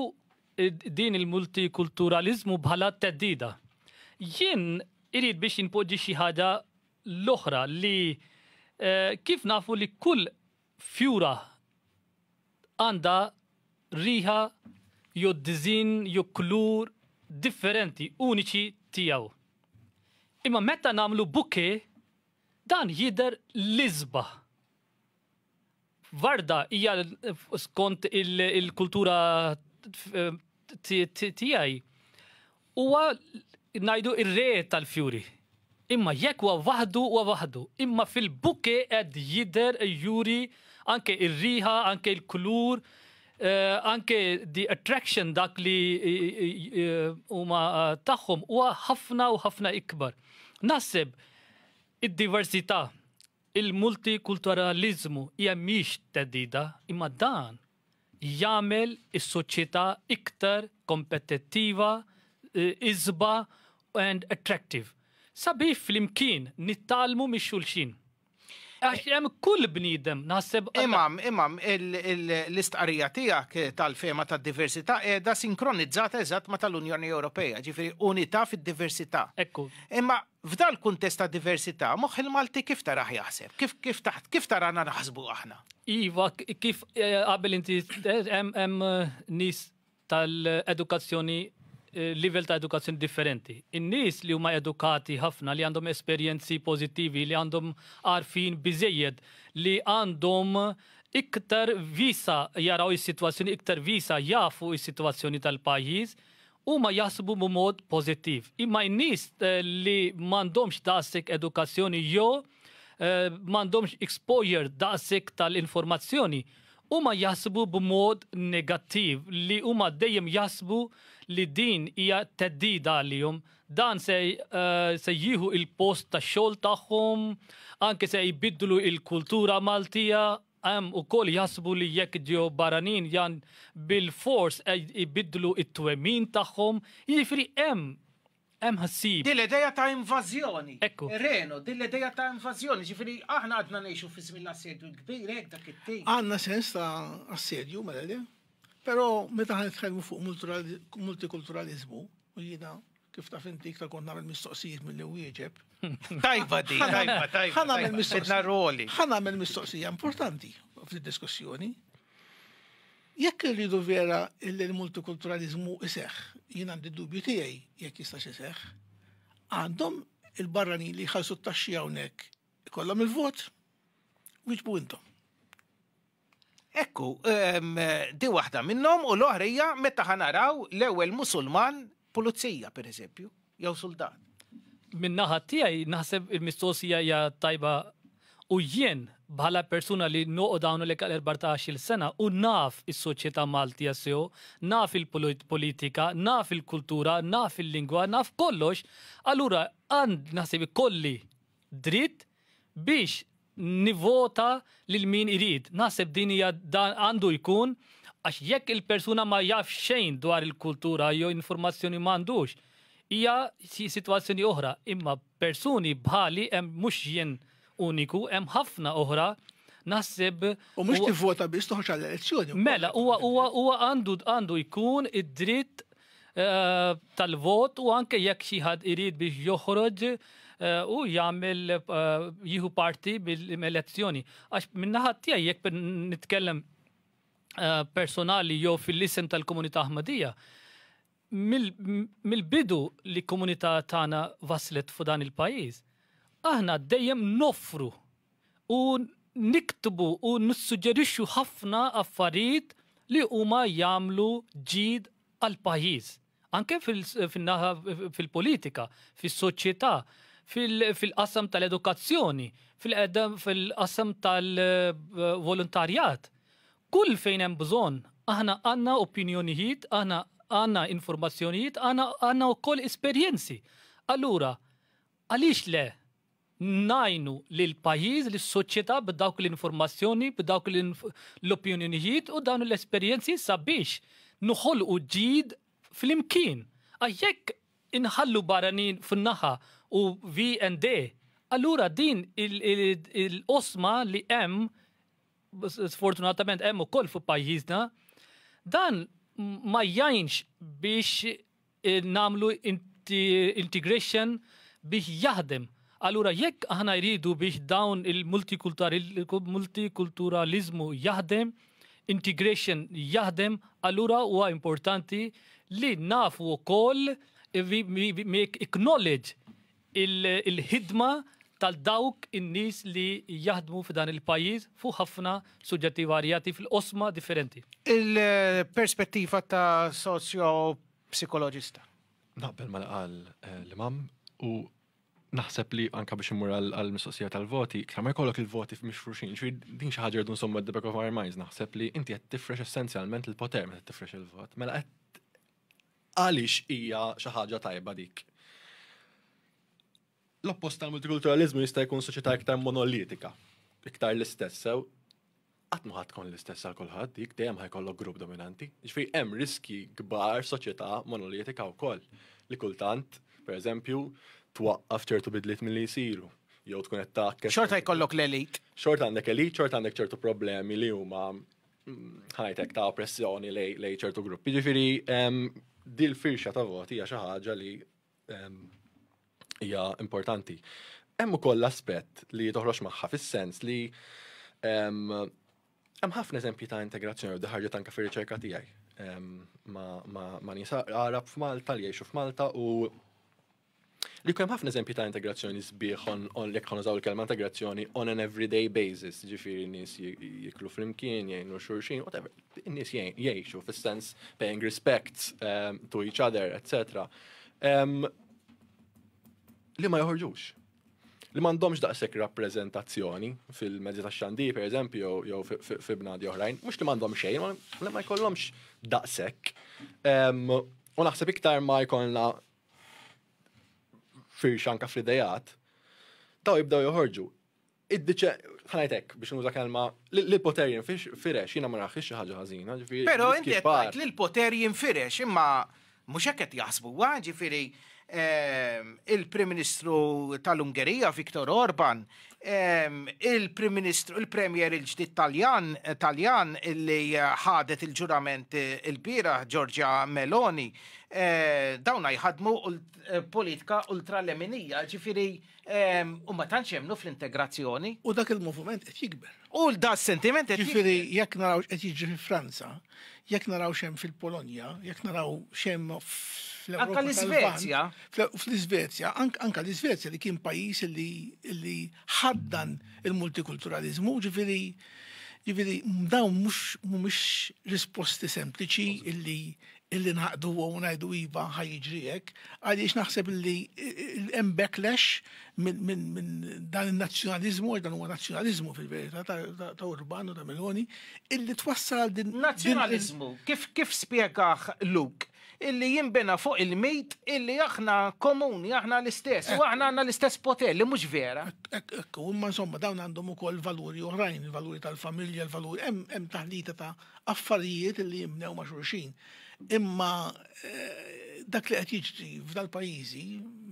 [SPEAKER 2] din il-multikulturaliżmu bħala theddida. Jien irid biex jinpoġġi xi ħaġa l-oħra li eh, kif nafu li kull fjura għandha riħa jew dizin jew klur differenti uniċi tiegħu. Imma meta nagħmlu buke dan jidher l-isba. Varda hija skont il-kultura tiegħi huwa ngħidu ir-re tal-fjuri. Imma jekk huwa waħdu huwa waħdu, imma fil-buke qed jidher juri anke ir-riħa, anke l-kulur, eh, anke the attraction dak li huma tagħhom huwa ħafna u ħafna ikbar. Naħseb id-diversità Il-multikulturaliżmu hija mhix theddida imma dan jagħmel is-soċjetà iktar kompetittiva, isba and attractive. Sabiex flimkien nittgħallmu mix-xulxin. Għax hemm kull bniedem naħseb. Imam, imam,
[SPEAKER 1] l-istqarrija tiegħek tal-fehma tad-diversità qiegħda sinkronizzata eżatt ma' tal-Unjoni Ewropea, ġifieri unità fid-diversità. Ekku. Imma F'dal-kuntest ta' diversità, moħħ il-Malti kif tarah jaħseb? Kif tarana naħsbu aħna? Iva, kif
[SPEAKER 2] qabel inti qed, hemm nies tal-edukazzjoni, livell ta' edukazzjoni differenti. In-nies li huma edukati ħafna, li għandhom esperjenzi pożittivi, li għandhom għarfien biżejjed, li għandhom iktar wiesa' jaraw is-sitwazzjoni, iktar wiesa' jafu s-sitwazzjoni tal-pajjiż, Huma jaħsbu b'mod pożittiv, imma n-nies li m'għandhomx daqshekk edukazzjoni jew m'għandhomx exposure daqshekk tal-informazzjoni, huma jaħsbu b'mod negattiv li huma dejjem jaħsbu li din hija theddida għalihom. Dan se se jieħu il-post tax-xogħol tagħhom, anke se jbiddlu il-kultura Maltija. Hemm ukoll jaħsbu li jekk ġew barranin jan bilfors qed ibiddlu t-twemmin tagħhom. Jiġifieri hemm, hemm ħsieb. Din l-idea ta'
[SPEAKER 1] invażjoni. Ekku. Reno,
[SPEAKER 2] din l-idea
[SPEAKER 1] ta' invażjoni. Jiġifieri aħna għadna ngħixu fi żmien l-Assedju l-Kbir, hekk dak it-tip. Għandna sens ta'
[SPEAKER 4] assedju, mela le. Però meta aħna nitkellmu fuq multikulturaliżmu, u jiena Kif taf inti iktar kont nagħmel mistoqsijiet milli wieġeb. Tajba di,
[SPEAKER 1] tajba, tajba. Ħa nagħmel mistoqsija. roli.
[SPEAKER 4] Ħa nagħmel mistoqsija importanti fid-diskussjoni. Jekk irridu vera illi l-multikulturalizmu iseħ, jien għandi dubju tiegħi jekk jistax iseħ, għandhom il-barrani li jħallsu t-taxxi hawnhekk ikollhom il-vot, wieġbu intom.
[SPEAKER 1] Ekku, di waħda minnhom u l-oħra hija meta ħa naraw l-ewwel Musulman pulizija pereżempju, jew suldat. Min-naħa
[SPEAKER 2] tiegħi naħseb il-mistoqsija hija tajba u jien bħala persuna li noqgħod hawnhekk għal 14-il sena u naf is-soċjetà Maltija sew, naf il-politika, naf il-kultura, naf il-lingwa, naf kollox, allura għand naħseb ikolli dritt biex nivvota lil min irid. Naħseb din hija dan għandu jkun għax jekk il-persuna ma jafx xejn dwar il-kultura jew informazzjoni m'għandux hija sitwazzjoni oħra. Imma persuni bħali hemm mhux jien uniku, hemm ħafna oħra naħseb U mhux tivvota
[SPEAKER 4] biss toħroġ għall-elezzjoni. Mela, huwa huwa
[SPEAKER 2] huwa għandu għandu jkun id-dritt tal-vot u anke jekk xi ħadd irid biex joħroġ u jagħmel jieħu parti mill-elezzjoni. Għax min-naħa tiegħi jekk nitkellem personali jew fil-isem tal-komunità Ahmadija, mill-bidu li komunità tagħna waslet fuq dan il-pajjiż, aħna dejjem noffru u niktbu u nissuġġerixxu ħafna affarijiet li huma jagħmlu ġid għall-pajjiż. Anke fin-naħa fil-politika, fis-soċjetà, fil-qasam tal-edukazzjoni, fil-qasam tal-volontarjat. Kull fejn hemm bżonn, aħna għandna opinjonijiet, aħna għandna informazzjonijiet, aħna għandna wkoll esperjenzi. Allura, għaliex le ngħinu lill-pajjiż, lis-soċjetà b'dawk l-informazzjoni, b'dawk l-opinjonijiet u dawn l-esperjenzi sabiex noħolqu ġid flimkien. Għax jekk inħallu barranin fuq naħa u vi and de, allura din il-qosma li hemm, sfortunatament hemm ukoll fi pajjiżna, dan ma jgħinx biex nagħmlu integration biex jaħdem. Allura jekk aħna jridu biex dawn il-multikulturalizmu jaħdem, integration jaħdem, allura huwa importanti li nafu wkoll acknowledge il-ħidma tal dawk in-nies li jaħdmu f'dan il-pajjiż fuq ħafna suġġetti varjati fil-qosma differenti. Il-perspettiva
[SPEAKER 1] ta' soċjo-psikoloġista. Naqbel
[SPEAKER 3] ma qal eh, l-imam u naħseb li anka biex imur għal-mistoqsija tal-voti, iktar ma jkollok il-voti mixfruxin, ġri din xi ħaġa rridu nsommu at the back of our minds, naħseb li inti qed tifrex essenzjalment il-poter meta tifrex il-vot. Mela qed Għaliex hija xi ħaġa tajba dik? L-oppost tal-multikulturaliżmu jista' jkun soċjetà iktar monolitika, iktar l-istess sew. Qatt ma ħadd tkun l-istess għal kulħadd dik dejjem ħajkollok grupp dominanti. Ġifieri hemm riskji kbar soċjetà monolitika wkoll li kultant, pereżempju, twaqqaf ċertu bidliet milli jsiru jew tkun qed taħkes. Xorta jkollok l-elit.
[SPEAKER 1] Xorta għandek elit,
[SPEAKER 3] xorta għandek ċertu problemi li huma ħajtek ta' oppressjoni lej ċertu gruppi. Ġifiri, dil-firxa ta' voti hija xi ħaġa li hija importanti. Hemm ukoll l-aspett li toħroġ magħha fis-sens li hemm ħafna eżempji ta' integrazzjoni u diħarġa tanka fir-riċerka tiegħi ma' nisa għarab f'Malta li jgħixu f'Malta u Li jkun hemm ħafna eżempji ta' integrazzjoni sbieħ on jekk ħon użaw il-kelma integrazzjoni on an everyday basis, ġifieri nies jiklu flimkien, jgħinu xulxin, whatever. Nies jgħixu fis-sens paying respects ehm, to each other, etc. Ehm, li ma joħorġux. Li m'għandhomx daqshekk rappreżentazzjoni fil-mezzi tax-xandir, per eżempju, jew fi bnadi oħrajn, mhux li m'għandhom xejn, ma jkollhomx daqshekk. Ehm, u naħseb iktar ma jkollna firxa anka fl-idejat, daw jibdaw joħorġu. Id-diċe, ħanajtek biex nuża kelma, l-poter jinfirex, jina ma naħħix xi ħaġa ħażina, ġifieri. Però inti qed
[SPEAKER 1] li l-poter jinfirex, imma mhux hekk qed jaħsbu huwa, ġifieri ehm, il-Prim Ministru tal-Ungerija Viktor Orban il-Prim Ministru, il-Premier il-ġdid Taljan, Taljan li ħadet il-ġurament il-bira Giorgia Meloni, eh, dawna jħadmu eh, politika ultraleminija, ġifiri u ma tantx jemnu fl-integrazzjoni. U dak il-moviment
[SPEAKER 4] qed jikber. U da s-sentiment
[SPEAKER 1] qed Ġifieri jekk naraw x'qed
[SPEAKER 4] jiġri fi Franza, jekk naraw x'hemm fil-Polonja, jekk naraw x'hemm fl-Ewropa. Anka
[SPEAKER 1] l-Iżvezja. Fl-Iżvezja,
[SPEAKER 4] anka l-Iżvezja li kien pajjiż li ħaddan il-multikulturalizmu, ġifieri ġifieri dawn mhux mhumiex risposti sempliċi illi illi ngħaqdu u ngħidu iva ħaj jiġri hekk, għaliex naħseb illi hemm backlash minn dan in-nazzjonaliżmu għax dan huwa nazzjonaliżmu fil-verità ta' Urban u ta' Meloni illi twassal għal din. Nazzjonaliżmu kif
[SPEAKER 1] kif spjegah Luke illi jinbena fuq il-mit illi aħna komuni, aħna l-istess, u aħna għandna l-istess poter li mhux vera. Ekku, imma insomma
[SPEAKER 4] dawn għandhom ukoll valuri oħrajn, il-valuri tal-familja, il-valuri hemm taħlita ta' affarijiet li jimnew ma' xulxin. Imma eh, dak li qed jiġri f'dal-pajjiżi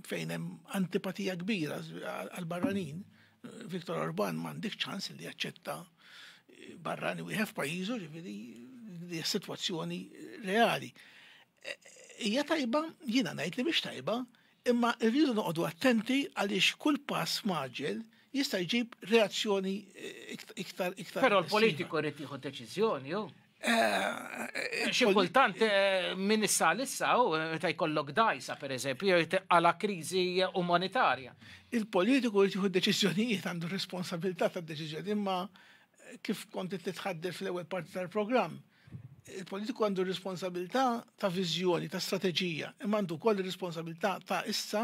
[SPEAKER 4] fejn hemm antipatija kbira għal-barranin, eh, Viktor Orban m'għandek ċans li jaċċetta eh, barrani wieħed f'pajjiżu, ġifieri li situazzjoni reali. Hija tajba, jiena ngħid li biex tajba, Imma rridu noqogħdu attenti għaliex kull pass mgħaġġel jista' jġib reazzjoni iktar iktar. Però l-politiku
[SPEAKER 1] rrid jieħu deċiżjoni hu. Eh, Xi kultant eh, min issa issa hu meta jkollok dajsa pereżempju jew għala kriżi umanitarja. Il-politiku
[SPEAKER 4] jrid jieħu deċiżjonijiet għandu responsabilità tad-deċiżjoni imma kif kont titħadder fl-ewwel parti tal-programm Il-politiku għandu r-responsabilità ta' viżjoni, ta' strateġija, imma għandu wkoll ir-responsabilità ta' issa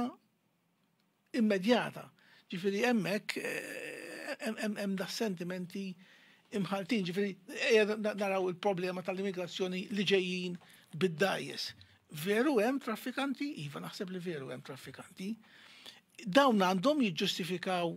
[SPEAKER 4] immedjata. Ġifieri hemmhekk hemm da sentimenti imħaltin, ġifieri ejja naraw il-problema tal-immigrazzjoni li ġejjin bid-dajjes. Veru hemm traffikanti, iva naħseb li veru hemm traffikanti. Dawn għandhom jiġġustifikaw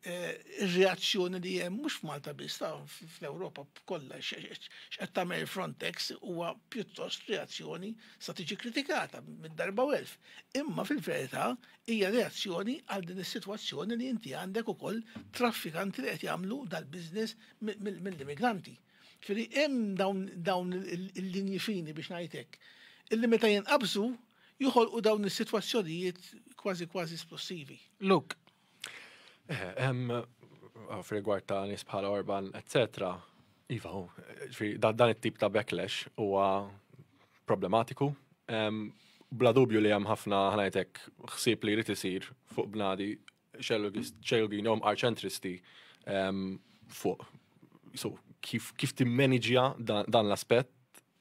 [SPEAKER 4] Eh, ir-reazzjoni li hemm mhux f'Malta biss ta' fl-Ewropa kollha x'qed tagħmel Frontex huwa pjuttost reazzjoni sa tiġi kritikata minn darba u elf. Imma fil-verità hija reazzjoni għal din is-sitwazzjoni li inti għandek ukoll traffikanti li qed jagħmlu dal-biżness mill-immigranti. Firri hemm dawn il-linji fini biex ngħidlek. Illi meta jinqabżu joħolqu dawn is-sitwazzjonijiet kważi kważi esplosivi. Look,
[SPEAKER 3] F'rigward ta' nies bħala Orban, etc. Iva, dan it-tip ta' backlash huwa problematiku. Bla dubju li hemm ħafna ħnajtek ħsieb li jrid isir fuq bnadi xelgin jom arċentristi fuq so kif kif timmaniġja dan l-aspett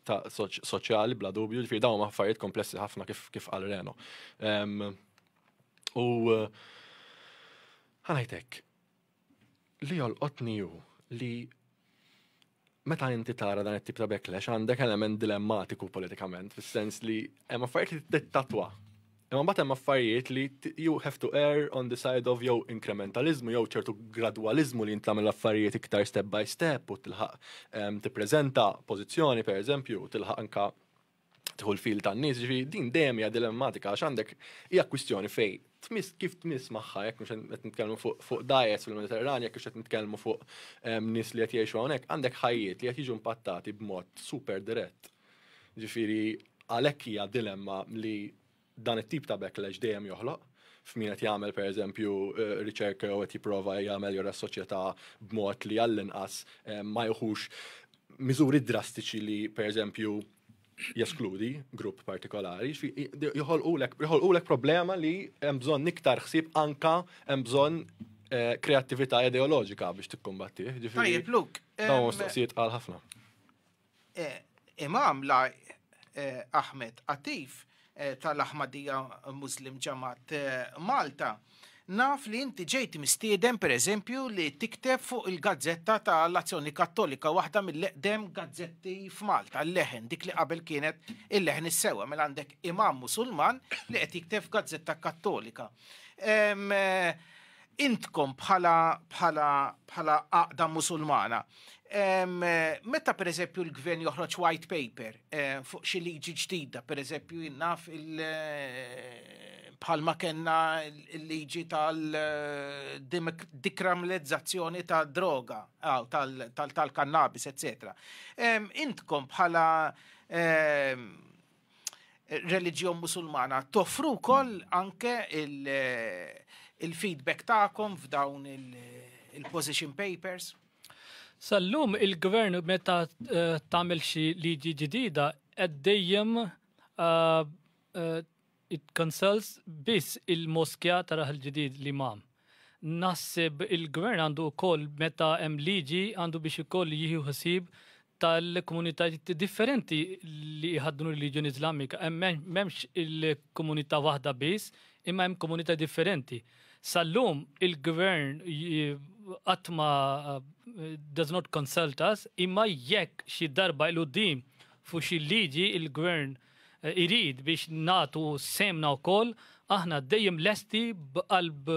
[SPEAKER 3] ta' soċjali bla dubju, ġifieri dawn ma' affarijiet komplessi ħafna kif kif qal Reno. U ħanajtek li jolqotni ju li meta inti tara dan it-tip ta' backlash għandek element dilemmatiku politikament, fis-sens li hemm affarijiet li tittatwa Imma mbagħad hemm affarijiet li you have to err on the side of jew inkrementaliżmu jew ċertu gradwaliżmu li jintlagħmel affarijiet iktar step by step u tilħaq ehm, tippreżenta pożizzjoni pereżempju u tilħaq anka tħul fil tan-nies, ġifi din dejjem hija dilemmatika għax għandek hija kwistjoni fej tmiss kif tmiss magħha jekk mhux qed nitkellmu fuq diets fil-Mediterranja kif qed nitkellmu fuq ehm, nies li qed jgħixu hawnhekk, għandek ħajjiet li qed jiġu impattati b'mod super dirett Ġifieri għalhekk hija dilemma li dan it-tip ta' backlash dejjem joħloq f'min qed jagħmel pereżempju eh, riċerka jew qed jipprova jagħmel jora s-soċjetà b'mod li għall-inqas eh, ma jħux miżuri drastiċi li pereżempju jeskludi grupp partikolari, joħolqulek problema li hemm bżonn iktar ħsieb anka hemm bżonn eh, kreattività ideoloġika biex tikkumbattih. Tajjeb, Luk.
[SPEAKER 1] Dawn mistoqsijiet għal
[SPEAKER 3] ħafna. Imam
[SPEAKER 1] la Ahmed Atif tal-Ahmadiyya Muslim Jamaat Malta, naf li inti ġejt mistieden per eżempju li tikteb fuq il-gazzetta ta' l-Azzjoni Kattolika, waħda mill-eqdem gazzetti f'Malta, l-Leħen, dik li qabel kienet il-Leħen is-sewwa, mela għandek Imam Musulman li qed jikteb f'gazzetta Kattolika. intkom bħala bħala bħala għaqda musulmana. Meta per eżempju l-gvern joħroġ white paper eh, fuq xi liġi ġdida, per eżempju jinnaf il- eh, bħalma kenna l-liġi tal-dikramlezzazzjoni eh, ta' droga, tal-kannabis, etc. Intkom bħala reliġjon musulmana toffru wkoll anke il-feedback il tagħkom f'dawn il-position il papers? Sallum
[SPEAKER 2] il-gvern meta eh, tagħmel xi liġi ġdida qed dejjem uh, uh, it consults biss il-moskja taraħ il-ġdid li mam. Naħseb il-Gvern għandu wkoll meta hemm liġi għandu biex ukoll jieħu ħsieb tal-komunitajiet differenti li jħaddnu r-reliġjoni Iżlamika. Hemm m'hemmx il-komunità waħda biss, imma hemm komunità differenti. Sal-lum il-Gvern qatt ma does not consult us, imma jekk xi darba il-qudiem fuq xi liġi il-Gvern irid biex nagħtu sehemna wkoll, aħna dejjem lesti b'qalb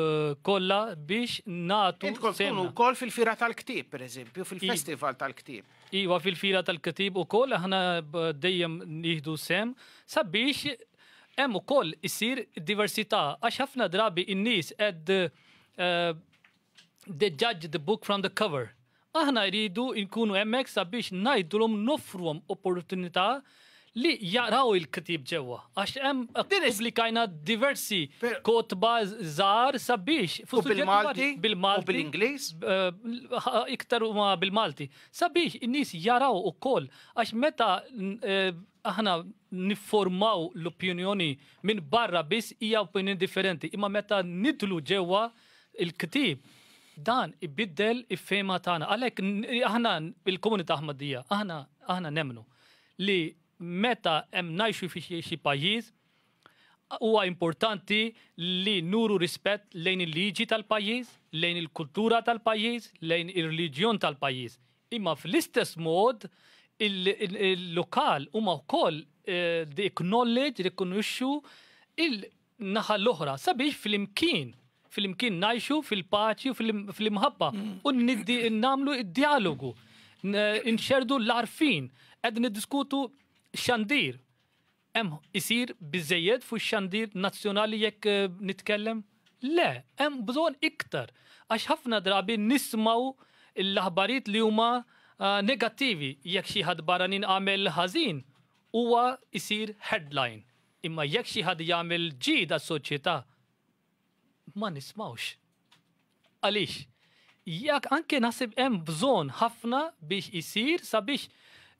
[SPEAKER 2] kollha biex nagħtu sehemna. Intkom tkunu wkoll fil-Fiera
[SPEAKER 1] tal-Ktieb, pereżempju, fil-Festival tal-Ktieb. Iva, fil-Fiera
[SPEAKER 2] tal-Ktieb ukoll aħna dejjem nieħdu sehem sabiex hemm ukoll issir diversità għax ħafna drabi n-nies qed they judge the book from the cover. Aħna rridu nkunu hemmhekk sabiex ngħidulhom noffruhom opportunità li jaqraw il-ktieb ġewwa. Għax hemm ppubblikajna diversi kotba żgħar sabiex fuq bil-Malti,
[SPEAKER 1] bil-Malti, bil-Ingliż,
[SPEAKER 2] iktar huma bil-Malti. Sabiex in-nies jaraw ukoll għax meta aħna nifformaw l-opinjoni minn barra biss hija opinjoni differenti, imma meta nidħlu ġewwa Il-ktieb dan ibiddel il-fehma tagħna. Għalhekk aħna il-komunità Ahmadija, aħna aħna nemmnu li meta hemm ngħixu fi xi pajjiż huwa importanti li nuru rispett lejn il-liġi tal-pajjiż, lejn il-kultura tal-pajjiż, lejn ir-reliġjon tal-pajjiż. Imma fl-istess mod il-lokal huma wkoll eh, acknowledge, rikonoxxu naħa l-oħra sabiex flimkien flimkien ngħixu fil-paċi u fl-imħabba u nagħmlu id-dialogu nxerdu l-arfin qed niddiskutu xandir hemm isir biżejjed fuq xandir nazzjonali jekk eh, nitkellem? Le, hemm bżonn iktar għax ħafna drabi nismaw l-aħbarijiet li huma eh, negattivi jekk xi ħadd barranin għamel ħażin huwa isir headline Imma jekk xi ħadd jagħmel ġid għas-soċjetà, ma nismgħux. Għaliex? Jekk anke naħseb hemm bżonn ħafna biex isir sabiex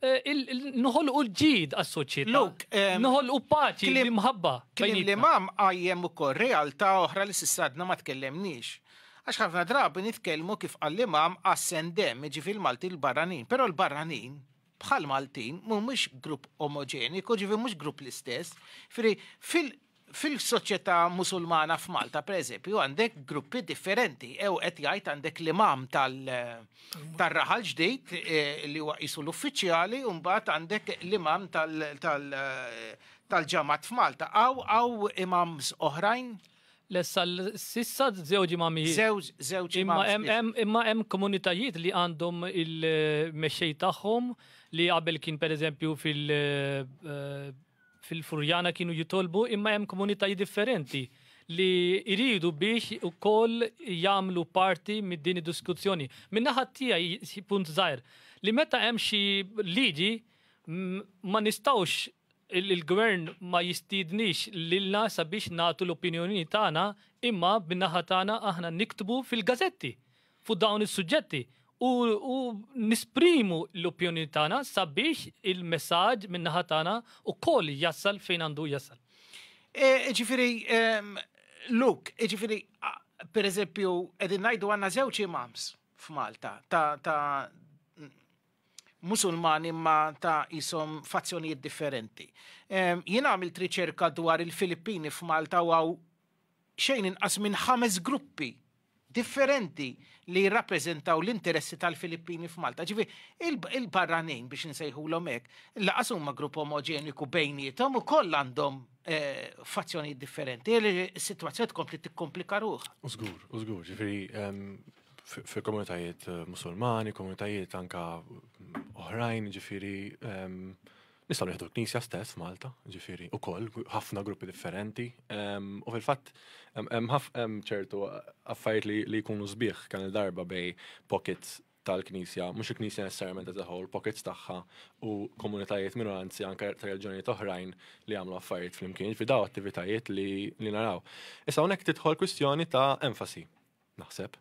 [SPEAKER 2] Nħolqu l-ġid għas-soċjetà. Eh, Nħolqu paċi li mħabba. Klim li mam
[SPEAKER 1] għajjem ukoll realtà oħra li s-sadna ma tkellemniex. Għax ħafna drabi nitkellmu kif għall-imam għas-sendem, ġifil Malti l-barranin, pero l-barranin bħal Maltin mhumiex grupp omoġeniku, ġifi mhux grupp l-istess. Firi, fil-soċjetà musulmana f'Malta, per eżempju, għandek gruppi differenti. Ew qed jgħid għandek l-imam tal-raħal ġdid eh, li huwa qisu l-uffiċjali, u mbagħad għandek l-imam tal-ġamat f'Malta. Aw aw imams oħrajn? Lessa
[SPEAKER 2] s'issa żewġ imamijiet. Żewġ, żewġ Imma imams.
[SPEAKER 1] hemm hemm imma hemm komunitajiet
[SPEAKER 2] li għandhom il-mexxej tagħhom li qabel kien pereżempju fil- eh, fil-Furjana kienu jitolbu imma hemm komunitajiet differenti li jridu biex ukoll jagħmlu parti minn din id-diskussjoni. Min-naħa tiegħi xi punt żgħir li meta hemm xi liġi m- ma nistgħux Il-Gvern ma jistiednix lilna sabiex nagħtu l-opinjoni tagħna imma min-naħa tagħna aħna niktbu fil-gazetti fuq dawn is-suġġetti u nesprimu l-opinjoni tagħna sabiex il-messaġġ min-naħa tagħna wkoll jasal fejn għandu jasal. Jiġifieri,
[SPEAKER 1] Luke, jiġifieri pereżempju qegħdin ngħidu għandna żewġ imams f'Malta ta' Musulmani imma ta' qishom fazzjonijiet differenti. Jien għamilt riċerka dwar il-Filippini f'Malta u hawn xejn inqas minn ħames gruppi differenti li jirrappreżentaw l-interessi tal-Filippini f'Malta. Ġifi, il-barranin biex nsejħulhom hekk, laqas huma grupp omogeniku bejnietom u koll għandhom eh, fazzjonijiet differenti. Is-sitwazzjoni tkompli tikkomplika ruħ. Użgur, użgur, ġifi,
[SPEAKER 3] fil-komunitajiet eh, musulmani, komunitajiet anka oħrajn, ġifiri, ehm, nistaw nieħdu l-Knisja stess Malta, ġifiri, u koll, ħafna gruppi differenti, ehm, u fil-fatt, hemm ċertu affarijiet li jkunu sbieħ kan il-darba bej pockets tal-Knisja, mhux il-Knisja necessarjament as a whole, pockets tagħha u komunitajiet minoranzi anke ta' reġjonijiet oħrajn li għamlu affarijiet flimkien, fi daw attivitajiet li naraw. Issa hawnhekk tidħol kwistjoni ta' enfasi naħseb,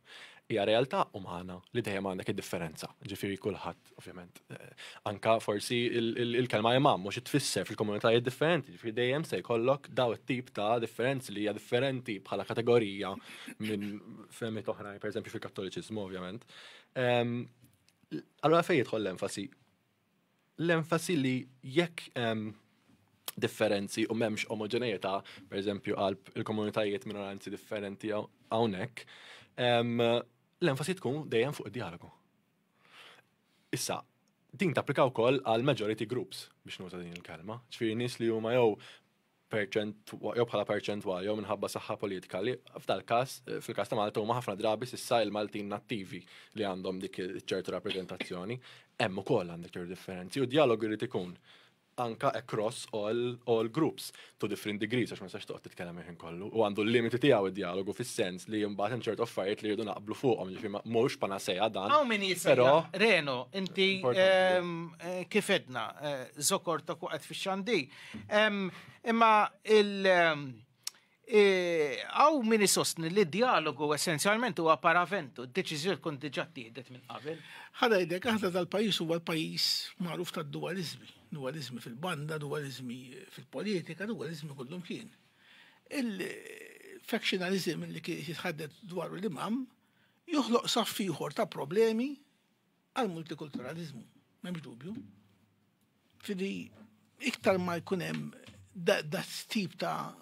[SPEAKER 3] hija realtà umana li dejjem għandek id-differenza. Ġifieri kulħadd, ovvjament, eh, anka forsi il-kelma imam mhux tfisser fil-komunitajiet differenti, ġifieri dejjem se jkollok daw it-tip ta' differenzi li hija differenti bħala kategorija minn fehmiet oħrajn, pereżempju fil-Kattoliċiżmu, ovvjament. Allora fejn jidħol l-enfasi l-enfasi li jekk differenzi u memx omogenejeta, per eżempju, għal il-komunitajiet minoranzi differenti għawnek, l-enfasi tkun dejjem fuq id-dialogu. Issa, din tapplika wkoll għal majority groups biex nuża din il-kelma, ċfiri nis li huma jew perċent jew bħala perċentwal jew minħabba saħħa politika li f'dal każ fil-każ ta' Malta huma ħafna drabi s'issa il-Maltin nattivi li għandhom dik ċertu rappreżentazzjoni, hemm ukoll għandek ċertu differenzi u d-dialog irid ikun anka across all, all groups to different degrees għax ma sax toqgħod titkellem il-ħin kollu u għandu l-limiti tiegħu id-dialogu fis-sens li mbagħad hemm ċertu affarijiet li jridu naqblu fuqhom ġifi mhux panaseja dan. Hawn min però
[SPEAKER 1] Reno, inti ehm, eh, kif edna, eh, żokor ta' kuqgħed fix-xandir Imma il- Għaw min isostni li dialogu essenzjalment huwa paraventu, d-deċiżjoni tkun diġà tieħdet minn qabel. Ħada jdek, aħna
[SPEAKER 4] tal-pajis huwa l-pajis magħruf ta' dualizmi. Dualizmi fil-banda, dualizmi fil-politika, dualizmi kullum kien. Il-factionalizm li kien jitħaddet dwar l-imam joħloq saffiħor ta' problemi għall-multikulturaliżmu. M'hemmx dubju. Fidi iktar ma jkun hemm dat tip ta'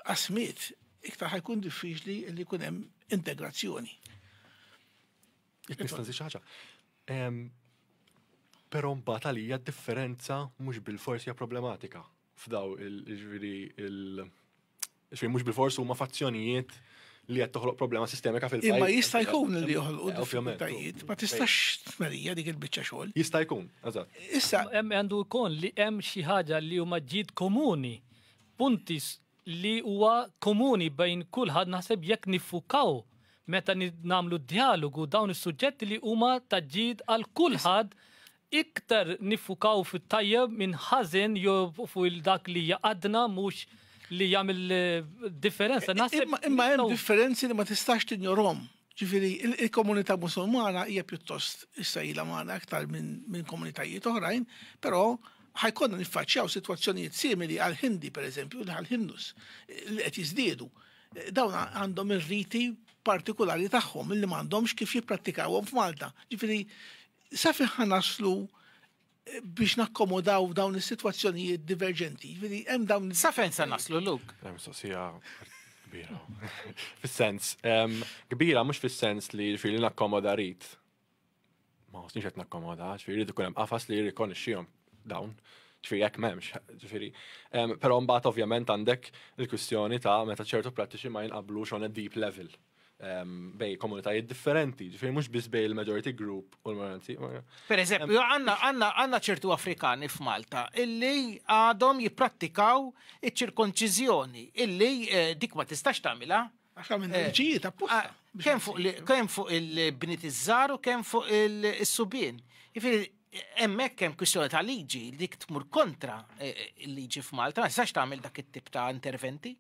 [SPEAKER 4] qasmiet, iktar ħajkun diffiċli li jkun hemm integrazzjoni.
[SPEAKER 3] Nista'
[SPEAKER 4] xi ħaġa.
[SPEAKER 3] Però mbagħad għalija differenza mhux bil-forsi hija problematika. f'daw il-ġviri il-xfejn mux bil-fors huma fazzjonijiet li qed toħloq problema sistemika fil-pajjiż. Imma jista' jkun li
[SPEAKER 4] joħolqu eh, diffikultajiet, ma tistax tmerija dik il-biċċa xogħol. Jista' jkun, eżatt.
[SPEAKER 3] Issa hemm għandu
[SPEAKER 4] jkun li
[SPEAKER 2] hemm xi ħaġa li huma ġid komuni, punti li huwa komuni bejn kulħadd naħseb jekk nifukaw meta nagħmlu dialogu dawn is-suġġetti li huma ta' ġid għal kulħadd Iktar niffukaw fit-tajjeb minn ħażen jew fuq il-dak li jaqadna mhux li jagħmel differenza. Naħseb imma hemm
[SPEAKER 4] differenzi li ma tistax tinjorhom. Ġifieri il-komunità Musulmana hija pjuttost issa ilha magħna aktar minn komunitajiet oħrajn, però ħajkonna niffaċċjaw sitwazzjonijiet simili għal Hindi pereżempju, għal Hindus li qed jiżdiedu. Dawn għandhom ir-riti partikolari tagħhom li m'għandhomx kif jipprattikawhom f'Malta. Ġifieri Sa fejn ħa naslu biex nakkomodaw dawn is-sitwazzjonijiet diverġenti? Jiġifieri hemm dawn. Sa fejn se naslu
[SPEAKER 1] luk? Hemm mistoqsija
[SPEAKER 3] kbira. Fis-sens kbira mhux fis-sens li jiġifieri nakkomoda rid. Ma ħossniex qed nakkomoda, ġifieri jrid ikun hemm qafas li jirrikonixxihom dawn ġifiri jekk memx, ġifiri. Pero mbagħad ovvjament għandek il-kwistjoni ta' meta ċertu prattiċi ma jinqablux on a deep level, bej komunitajiet differenti, ġifiri mux biz bej il-majority group u l-minoranzi. Per eżempju,
[SPEAKER 1] għanna ċertu Afrikani f'Malta illi għadhom jiprattikaw iċ-ċirkonċizjoni, illi eh, dik ma tistax tamila. Għaxa minn eh, ġijiet
[SPEAKER 4] apposta. Ah, kem
[SPEAKER 1] fuq il-bnit iż-żar u kem fuq il-subien. Ġifiri, emmek kem kwistjoni ta' liġi, dik tmur kontra eh, il-liġi f'Malta, ma tistax tamil dak it-tip ta' interventi.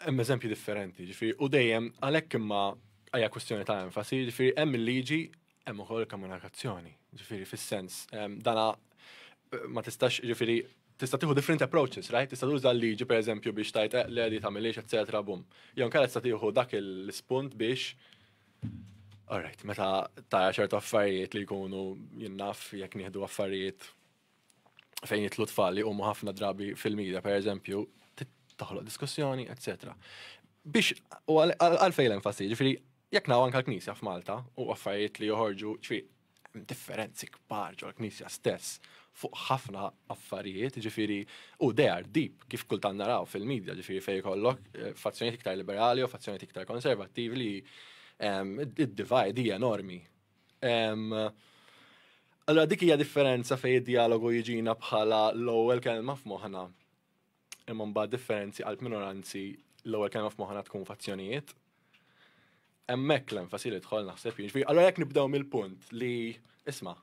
[SPEAKER 1] Hemm eżempji
[SPEAKER 3] differenti, ġifieri, u dejjem għalhekk imma għajja kwestjoni ta' enfasi, ġifieri hemm il-liġi hemm ukoll komunikazzjoni. Ġifieri fis-sens dana eh, ma tistax ġifieri tista' tieħu different approaches, right? Tista' tuża l-liġi pereżempju biex tajt eh, le li tagħmiliex eċetera bum. Jew nkara tista' tieħu dak il-spunt biex Alright, meta ta' ċertu affarijiet li jkunu jinnaf jekk nieħdu affarijiet fejn jitlu tfal li huma ħafna drabi fil-medja, per eżempju, toħloq diskussjoni, etc. Biex, u għalfej l-enfasi, ġifiri, jek naw anka l-Knisja f'Malta u affarijiet li joħorġu, ġifiri, differenzi kbar ġol knisja stess fuq ħafna affarijiet, ġifiri, u they are deep, kif kultan naraw fil-medja, ġifiri fej kollok, eh, fazzjoniet iktar liberali u fazzjoniet iktar konservativi li ehm, id-divide hija enormi Allora dik hija differenza fej id-dialogu jiġina bħala l-ewwel kelma f'moħħna. Imma mbagħad differenzi għal minoranzi l-ewwel kelma f'moħħna tkun fazzjonijiet. Hemmhekk l-enfasi li dħol naħseb jiġri. Allora jekk nibdew mill-punt li isma'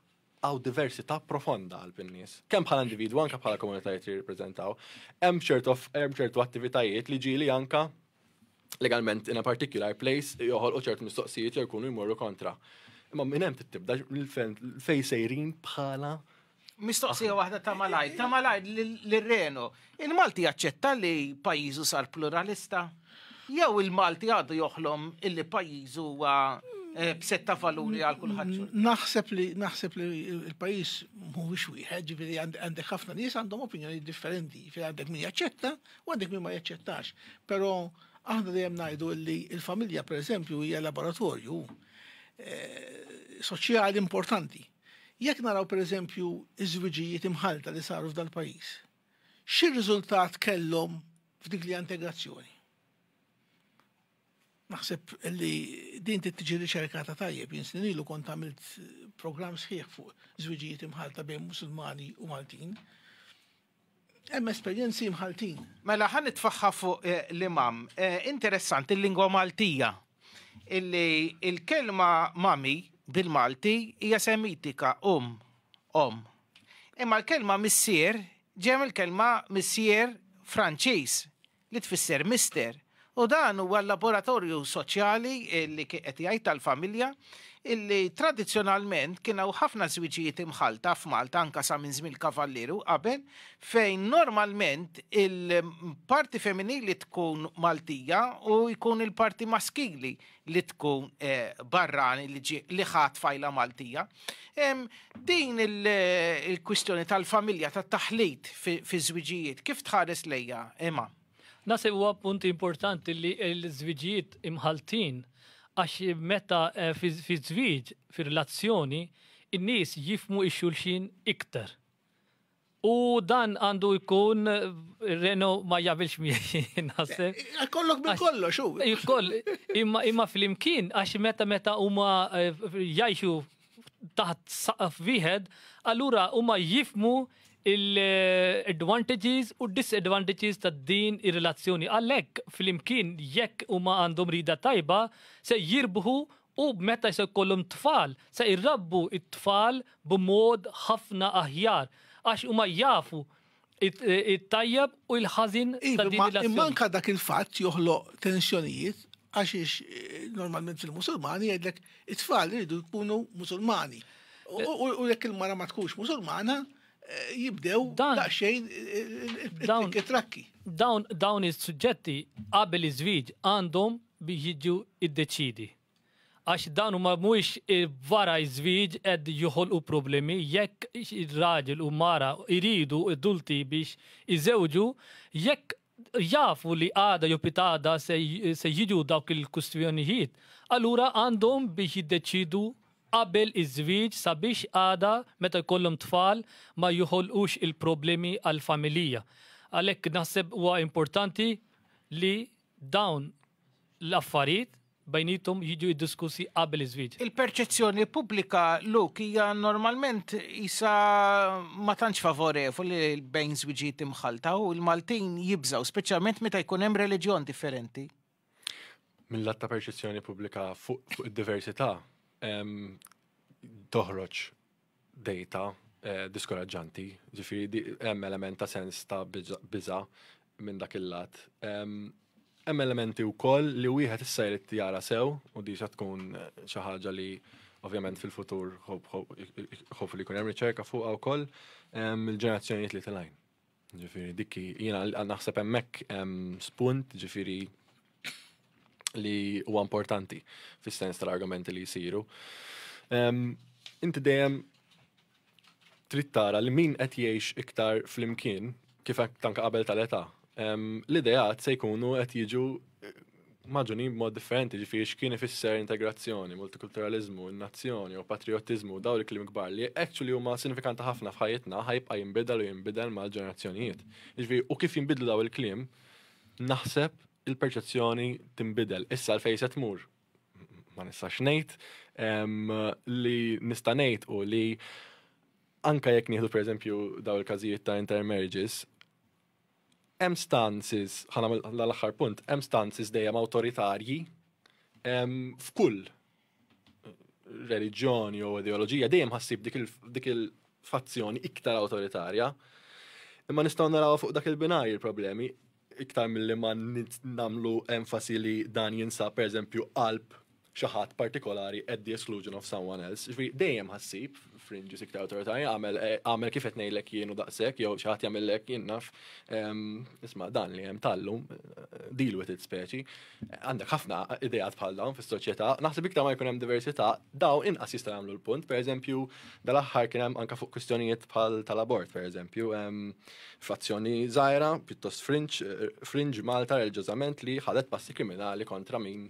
[SPEAKER 3] għaw diversità profonda għal pinnis. Kemm bħala individu anka bħala komunitajiet li jirrepreżentaw, hemm ċertu attivitajiet li ġieli anka legalment in a particular place joħolqu ċertu mistoqsijiet jew jkunu jmorru kontra. Imma minn hemm tibda fej sejrin bħala Mistoqsija
[SPEAKER 1] waħda ta' malaj, ta' malaj l-Reno. Il-Malti jaċċetta li pajizu sar pluralista? Jew il-Malti għadu joħlom illi pajizu huwa eh, b'setta valuri għal kulħadd. Naħseb li
[SPEAKER 4] naħseb li l-pajjiż mhuwiex wieħed, ġifieri għandek ħafna nies għandhom opinjoni differenti, ġifieri għandek min jaċċetta Għandek min ma jaċċettax, però aħna dejjem ngħidu li l-familja pereżempju hija laboratorju eh, soċjali importanti. Jekk naraw pereżempju iż-żwiġijiet imħalta li saru f'dal pajjiż, xi riżultat kellhom f'dik li integrazzjoni? Naħseb li din tiġi riċerkata tajjeb, jinsin ilu kont għamilt program sħiħ fuq żwiġijiet imħalta bejn musulmani u Maltin. Hemm esperjenzi mħalltin. Mela ħa nitfaħħa
[SPEAKER 1] fuq eh, l-imam. Eh, interessanti l-lingwa Maltija. Illi il-kelma mami bil-Malti hija semitika um, om. Imma l-kelma missier ġem il-kelma missier Franċiż li tfisser mister, u dan huwa l-laboratorju soċjali li kien qed jgħid tal-familja illi tradizzjonalment kien hawn ħafna żwiġijiet imħallta f'Malta anke sa minn żmien il-Kavallieri u qabel fejn normalment il-parti femminili tkun Maltija u jkun il-parti maskili li tkun barrani li ħa tfajla Maltija. Din il-kwistjoni tal-familja, tat-taħlit fi żwiġijiet, kif tħares lejja, imma? Nasib huwa
[SPEAKER 2] punti importanti li l-żwiġijiet imħaltin għax meta eh, fi żwieġ, fi relazzjoni, in-nies jifmu ix-xulxin iktar. U dan għandu jkun Reno ma jabilx miegħi naħseb. Eh, kollok minn kollox
[SPEAKER 4] u. Koll,
[SPEAKER 2] imma imma flimkien għax meta meta huma eh, jgħixu taħt saqaf wieħed, allura huma jifmu il-advantages u disadvantages ta' din ir-relazzjoni. Għalhekk flimkien jekk huma għandhom rida tajba se jirbħu U meta se jkollhom tfal, se jrabbu t-tfal b'mod ħafna aħjar, għax huma jafu t-tajjeb u l-ħażin ta' din ir-relazzjoni. Iva, imma anke dak il-fatt
[SPEAKER 4] joħloq tensjonijiet, għax normalment fil-Musulmani jgħidlek it-tfal iridu jkunu Musulmani. U jekk il-mara ma tkunx Musulmana, jibdew daqsxejn it-trakki. Dawn
[SPEAKER 2] is-suġġetti qabel iż-żwieġ għandhom biex jiġu iddeċiedi. Għax dawn huma mhuwiex wara ż-żwieġ qed joħolqu problemi, jekk raġel u mara jridu adulti biex iżewġu, jekk jafu li għada jew pitgħada se jiġu dawk il-kwistjonijiet, allura għandhom biex jiddeċiedu qabel iż-żwieġ sabiex għada meta jkollhom tfal ma joħolqux il-problemi għall-familija. Għalhekk naħseb huwa importanti li Dawn l-affarijiet bejniethom jiġu ddiskussi qabel iż-żwieġ. Il-perċezzjoni pubblika,
[SPEAKER 1] Luke, hija normalment qisha ma tantx favorevoli bejn żwiġijiet imħallta u l-Maltin jibżgħu, speċjalment meta jkun hemm reliġjon differenti.
[SPEAKER 3] Mil-lat ta' perċezzjoni pubblika fuq id-diversità toħroġ dejta diskoraġġanti, ġifieri hemm element ta' sens ta' biża' minn dak il-lat. Hemm elementi wkoll li wieħed issa jrid jara sew u diġa tkun xi ħaġa li ovvjament fil-futur ħofu li jkun hemm riċerka fuqha wkoll il-ġenerazzjonijiet li tilgħin. Ġifiri, dikki, jina naħseb emmek spunt, ġifiri, li huwa importanti fis-sens tal-argumenti li jisiru. Inti dejjem trid tara li min qed jgħix iktar flimkien kif tanka qabel tal-età. L-ideat se jkunu qed jiġu maġunin b'mod differenti ġifiri x'kien ifisser integrazzjoni, multikulturalizmu, nazzjoni u patriotizmu daw li klim kbar li actually huma sinifikanti ħafna f'ħajjitna ħajbqa' jinbidel u jinbidel mal-ġenerazzjonijiet. Ġifiri, u kif jinbidlu daw il-klim, naħseb il-perċezzjoni tinbidel. Issa l fejset mur, ma nistax ngħid, li nista' ngħid u li anka jekk nieħdu pereżempju daw il-każijiet ta' intermarriages, Hemm stances, ħa nagħmel l-aħħar punt, hemm stances dejjem awtoritarji f'kull reliġjon jew ideoloġija dejjem ħassib dik il-fazzjoni iktar awtoritarja. Imma nistgħu naraw fuq dak il-binaj il-problemi iktar mill-li ma namlu enfasi li dan jinsab per eżempju qalb xi ħadd partikolari at the exclusion of someone else. Ġifieri dejjem ħassib frinġi sikta awtorità jagħmel eh, għamel kif qed ngħidlek jien u daqshekk jew xi ħadd jagħmellek jien naf. Ehm, isma' dan li hemm tallum eh, deal with it speċi. Għandek ħafna ideat bħal dawn fis-soċjetà. Naħseb iktar ma jkun hemm diversità, daw inqas jista' jagħmlu l-punt. Pereżempju, dal-aħħar kien hemm anke fuq kwistjonijiet bħal tal-abort, pereżempju, ehm, frazzjoni żgħira, pjuttost frinġ, eh, frinġ Malta reliġjożament li ħadet passi kriminali kontra min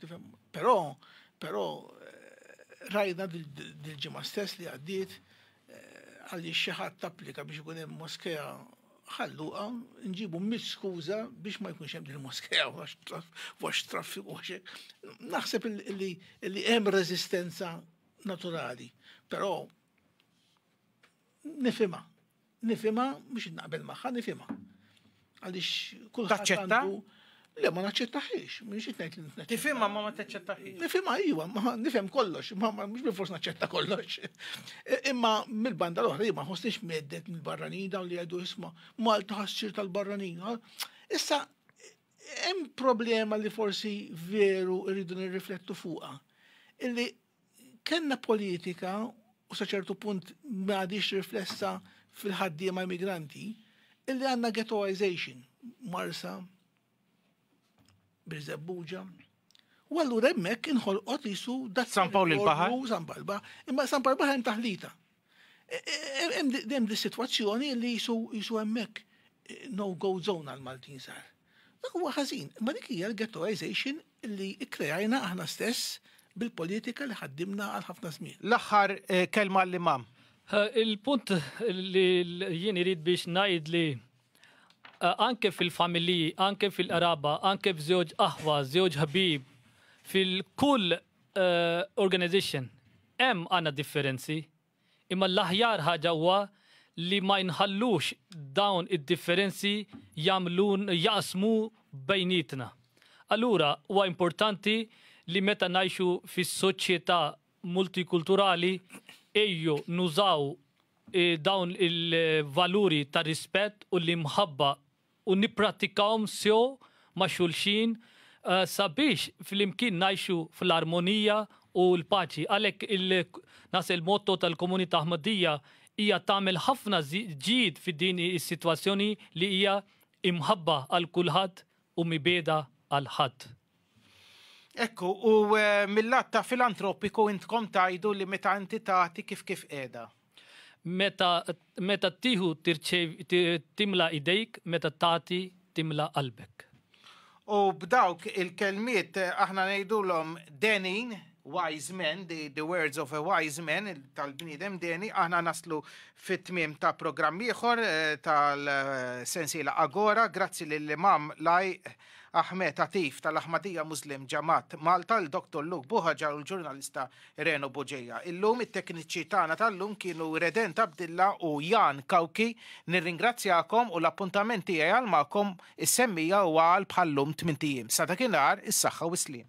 [SPEAKER 4] Tifhem? Però, però eh, rajna dil-ġimgħa stess li għaddiet eh, għalli xi ħadd tapplika biex ikun hemm moskea ħalluqa nġibu mis skuża biex ma jkunx hemm il-moskeja wax traffiku għax naħseb li hemm reżistenza naturali, però nifhimha Nifhimha, mhux naqbel magħha, nifhimha. Għaliex kulħadd għandu. Le, ma naċċettaħiex, minn xi tgħid li Tifhimha ma ma taċċettaħiex.
[SPEAKER 1] Nifhimha iva, ma
[SPEAKER 4] nifhem kollox, ma mhux bil forsi naċċetta kollox. Imma mill-banda l-oħra ma ħossniex meddet mill-barranin dawn li għedu isma' Malta ħassir tal-barranin. Issa hemm problema li forsi veru rridu nirriflettu fuqha. Illi Kellna politika u sa ċertu punt ma għadhiex riflessa fil-ħaddiema immigranti illi għandna ghettoization, Marsa, Birżebbuġa. U allura hemmhekk inħolqot isu dat San Pawl il-Baħar.
[SPEAKER 1] San Pawl il-Baħar,
[SPEAKER 4] imma San Pawl il-Baħar hemm taħlita. Hemm di sitwazzjoni li jisu hemmhekk no-go zone għal Maltin sar. Dak huwa ħażin, imma dik hija l-ghettoization li kkrejajna aħna stess bil-politika li ħaddimna għal ħafna żmien. L-aħħar eh, kelma
[SPEAKER 1] għall-imam. Il-punt
[SPEAKER 2] li jien irid biex ngħid li eh, anke fil-familji, anke fil-qraba, anke f'żewġ aħwa, żewġ ħbib, fil-kull eh, organization Hemm għandna differenzi, imma l-aħjar ħaġa huwa li ma nħallux dawn id-differenzi jagħmlun jaqsmu bejnietna. Allura huwa importanti li meta ngħixu fi soċjetà multikulturali ejju nużaw dawn il-valuri ta' rispett u l-imħabba u nipprattikawhom sew ma' xulxin sabiex flimkien ngħixu fl-armonija u l-paċi. Għalhekk naħseb il-motto tal-Komunità Ahmadiyya hija tagħmel ħafna ġid fi din is-sitwazzjoni li hija imħabba għal kulħadd u mibegħda għal ħadd.
[SPEAKER 1] Ekku, u mill-lat ta' filantropiku intkom tgħidu li meta inti tagħti kif kif qiegħda. Meta
[SPEAKER 2] meta ttieħu timla idejk, meta tagħti timla qalbek. U
[SPEAKER 1] b'dawk il-kelmiet eh, aħna ngħidulhom denin, wise men, the, the words of a wise man tal-bniedem deni, aħna naslu fit-tmiem ta' programm ieħor eh, tal-sensiela Agora, grazzi lill-imam laj Ahmed Atif tal-Ahmadiyya Muslim Jamaat Malta, il-Doctor Luke Buhagiar u l-ġurnalista Reno Bugeja. Illum it-tekniċi tagħna tal-lum kienu Redent Abdilla u Jan Cauchi. Nirringrazzjakom u l-appuntament tiegħi għal magħkom is-semmija huwa għal bħal-lum tmint ijiem. Sa dakinhar, is-saħħa u s-sliem.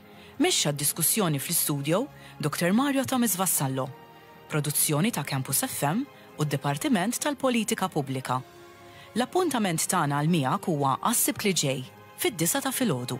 [SPEAKER 5] Mexxa d-diskussjoni fl-istudio Dr. Mario Thomas Vassallo, produzzjoni ta' Campus FM u d-Dipartiment tal-Politika Pubblika. L-appuntament tagħna għal miegħek huwa għas-Sibt li ġej, fid-disgħa ta' filgħodu.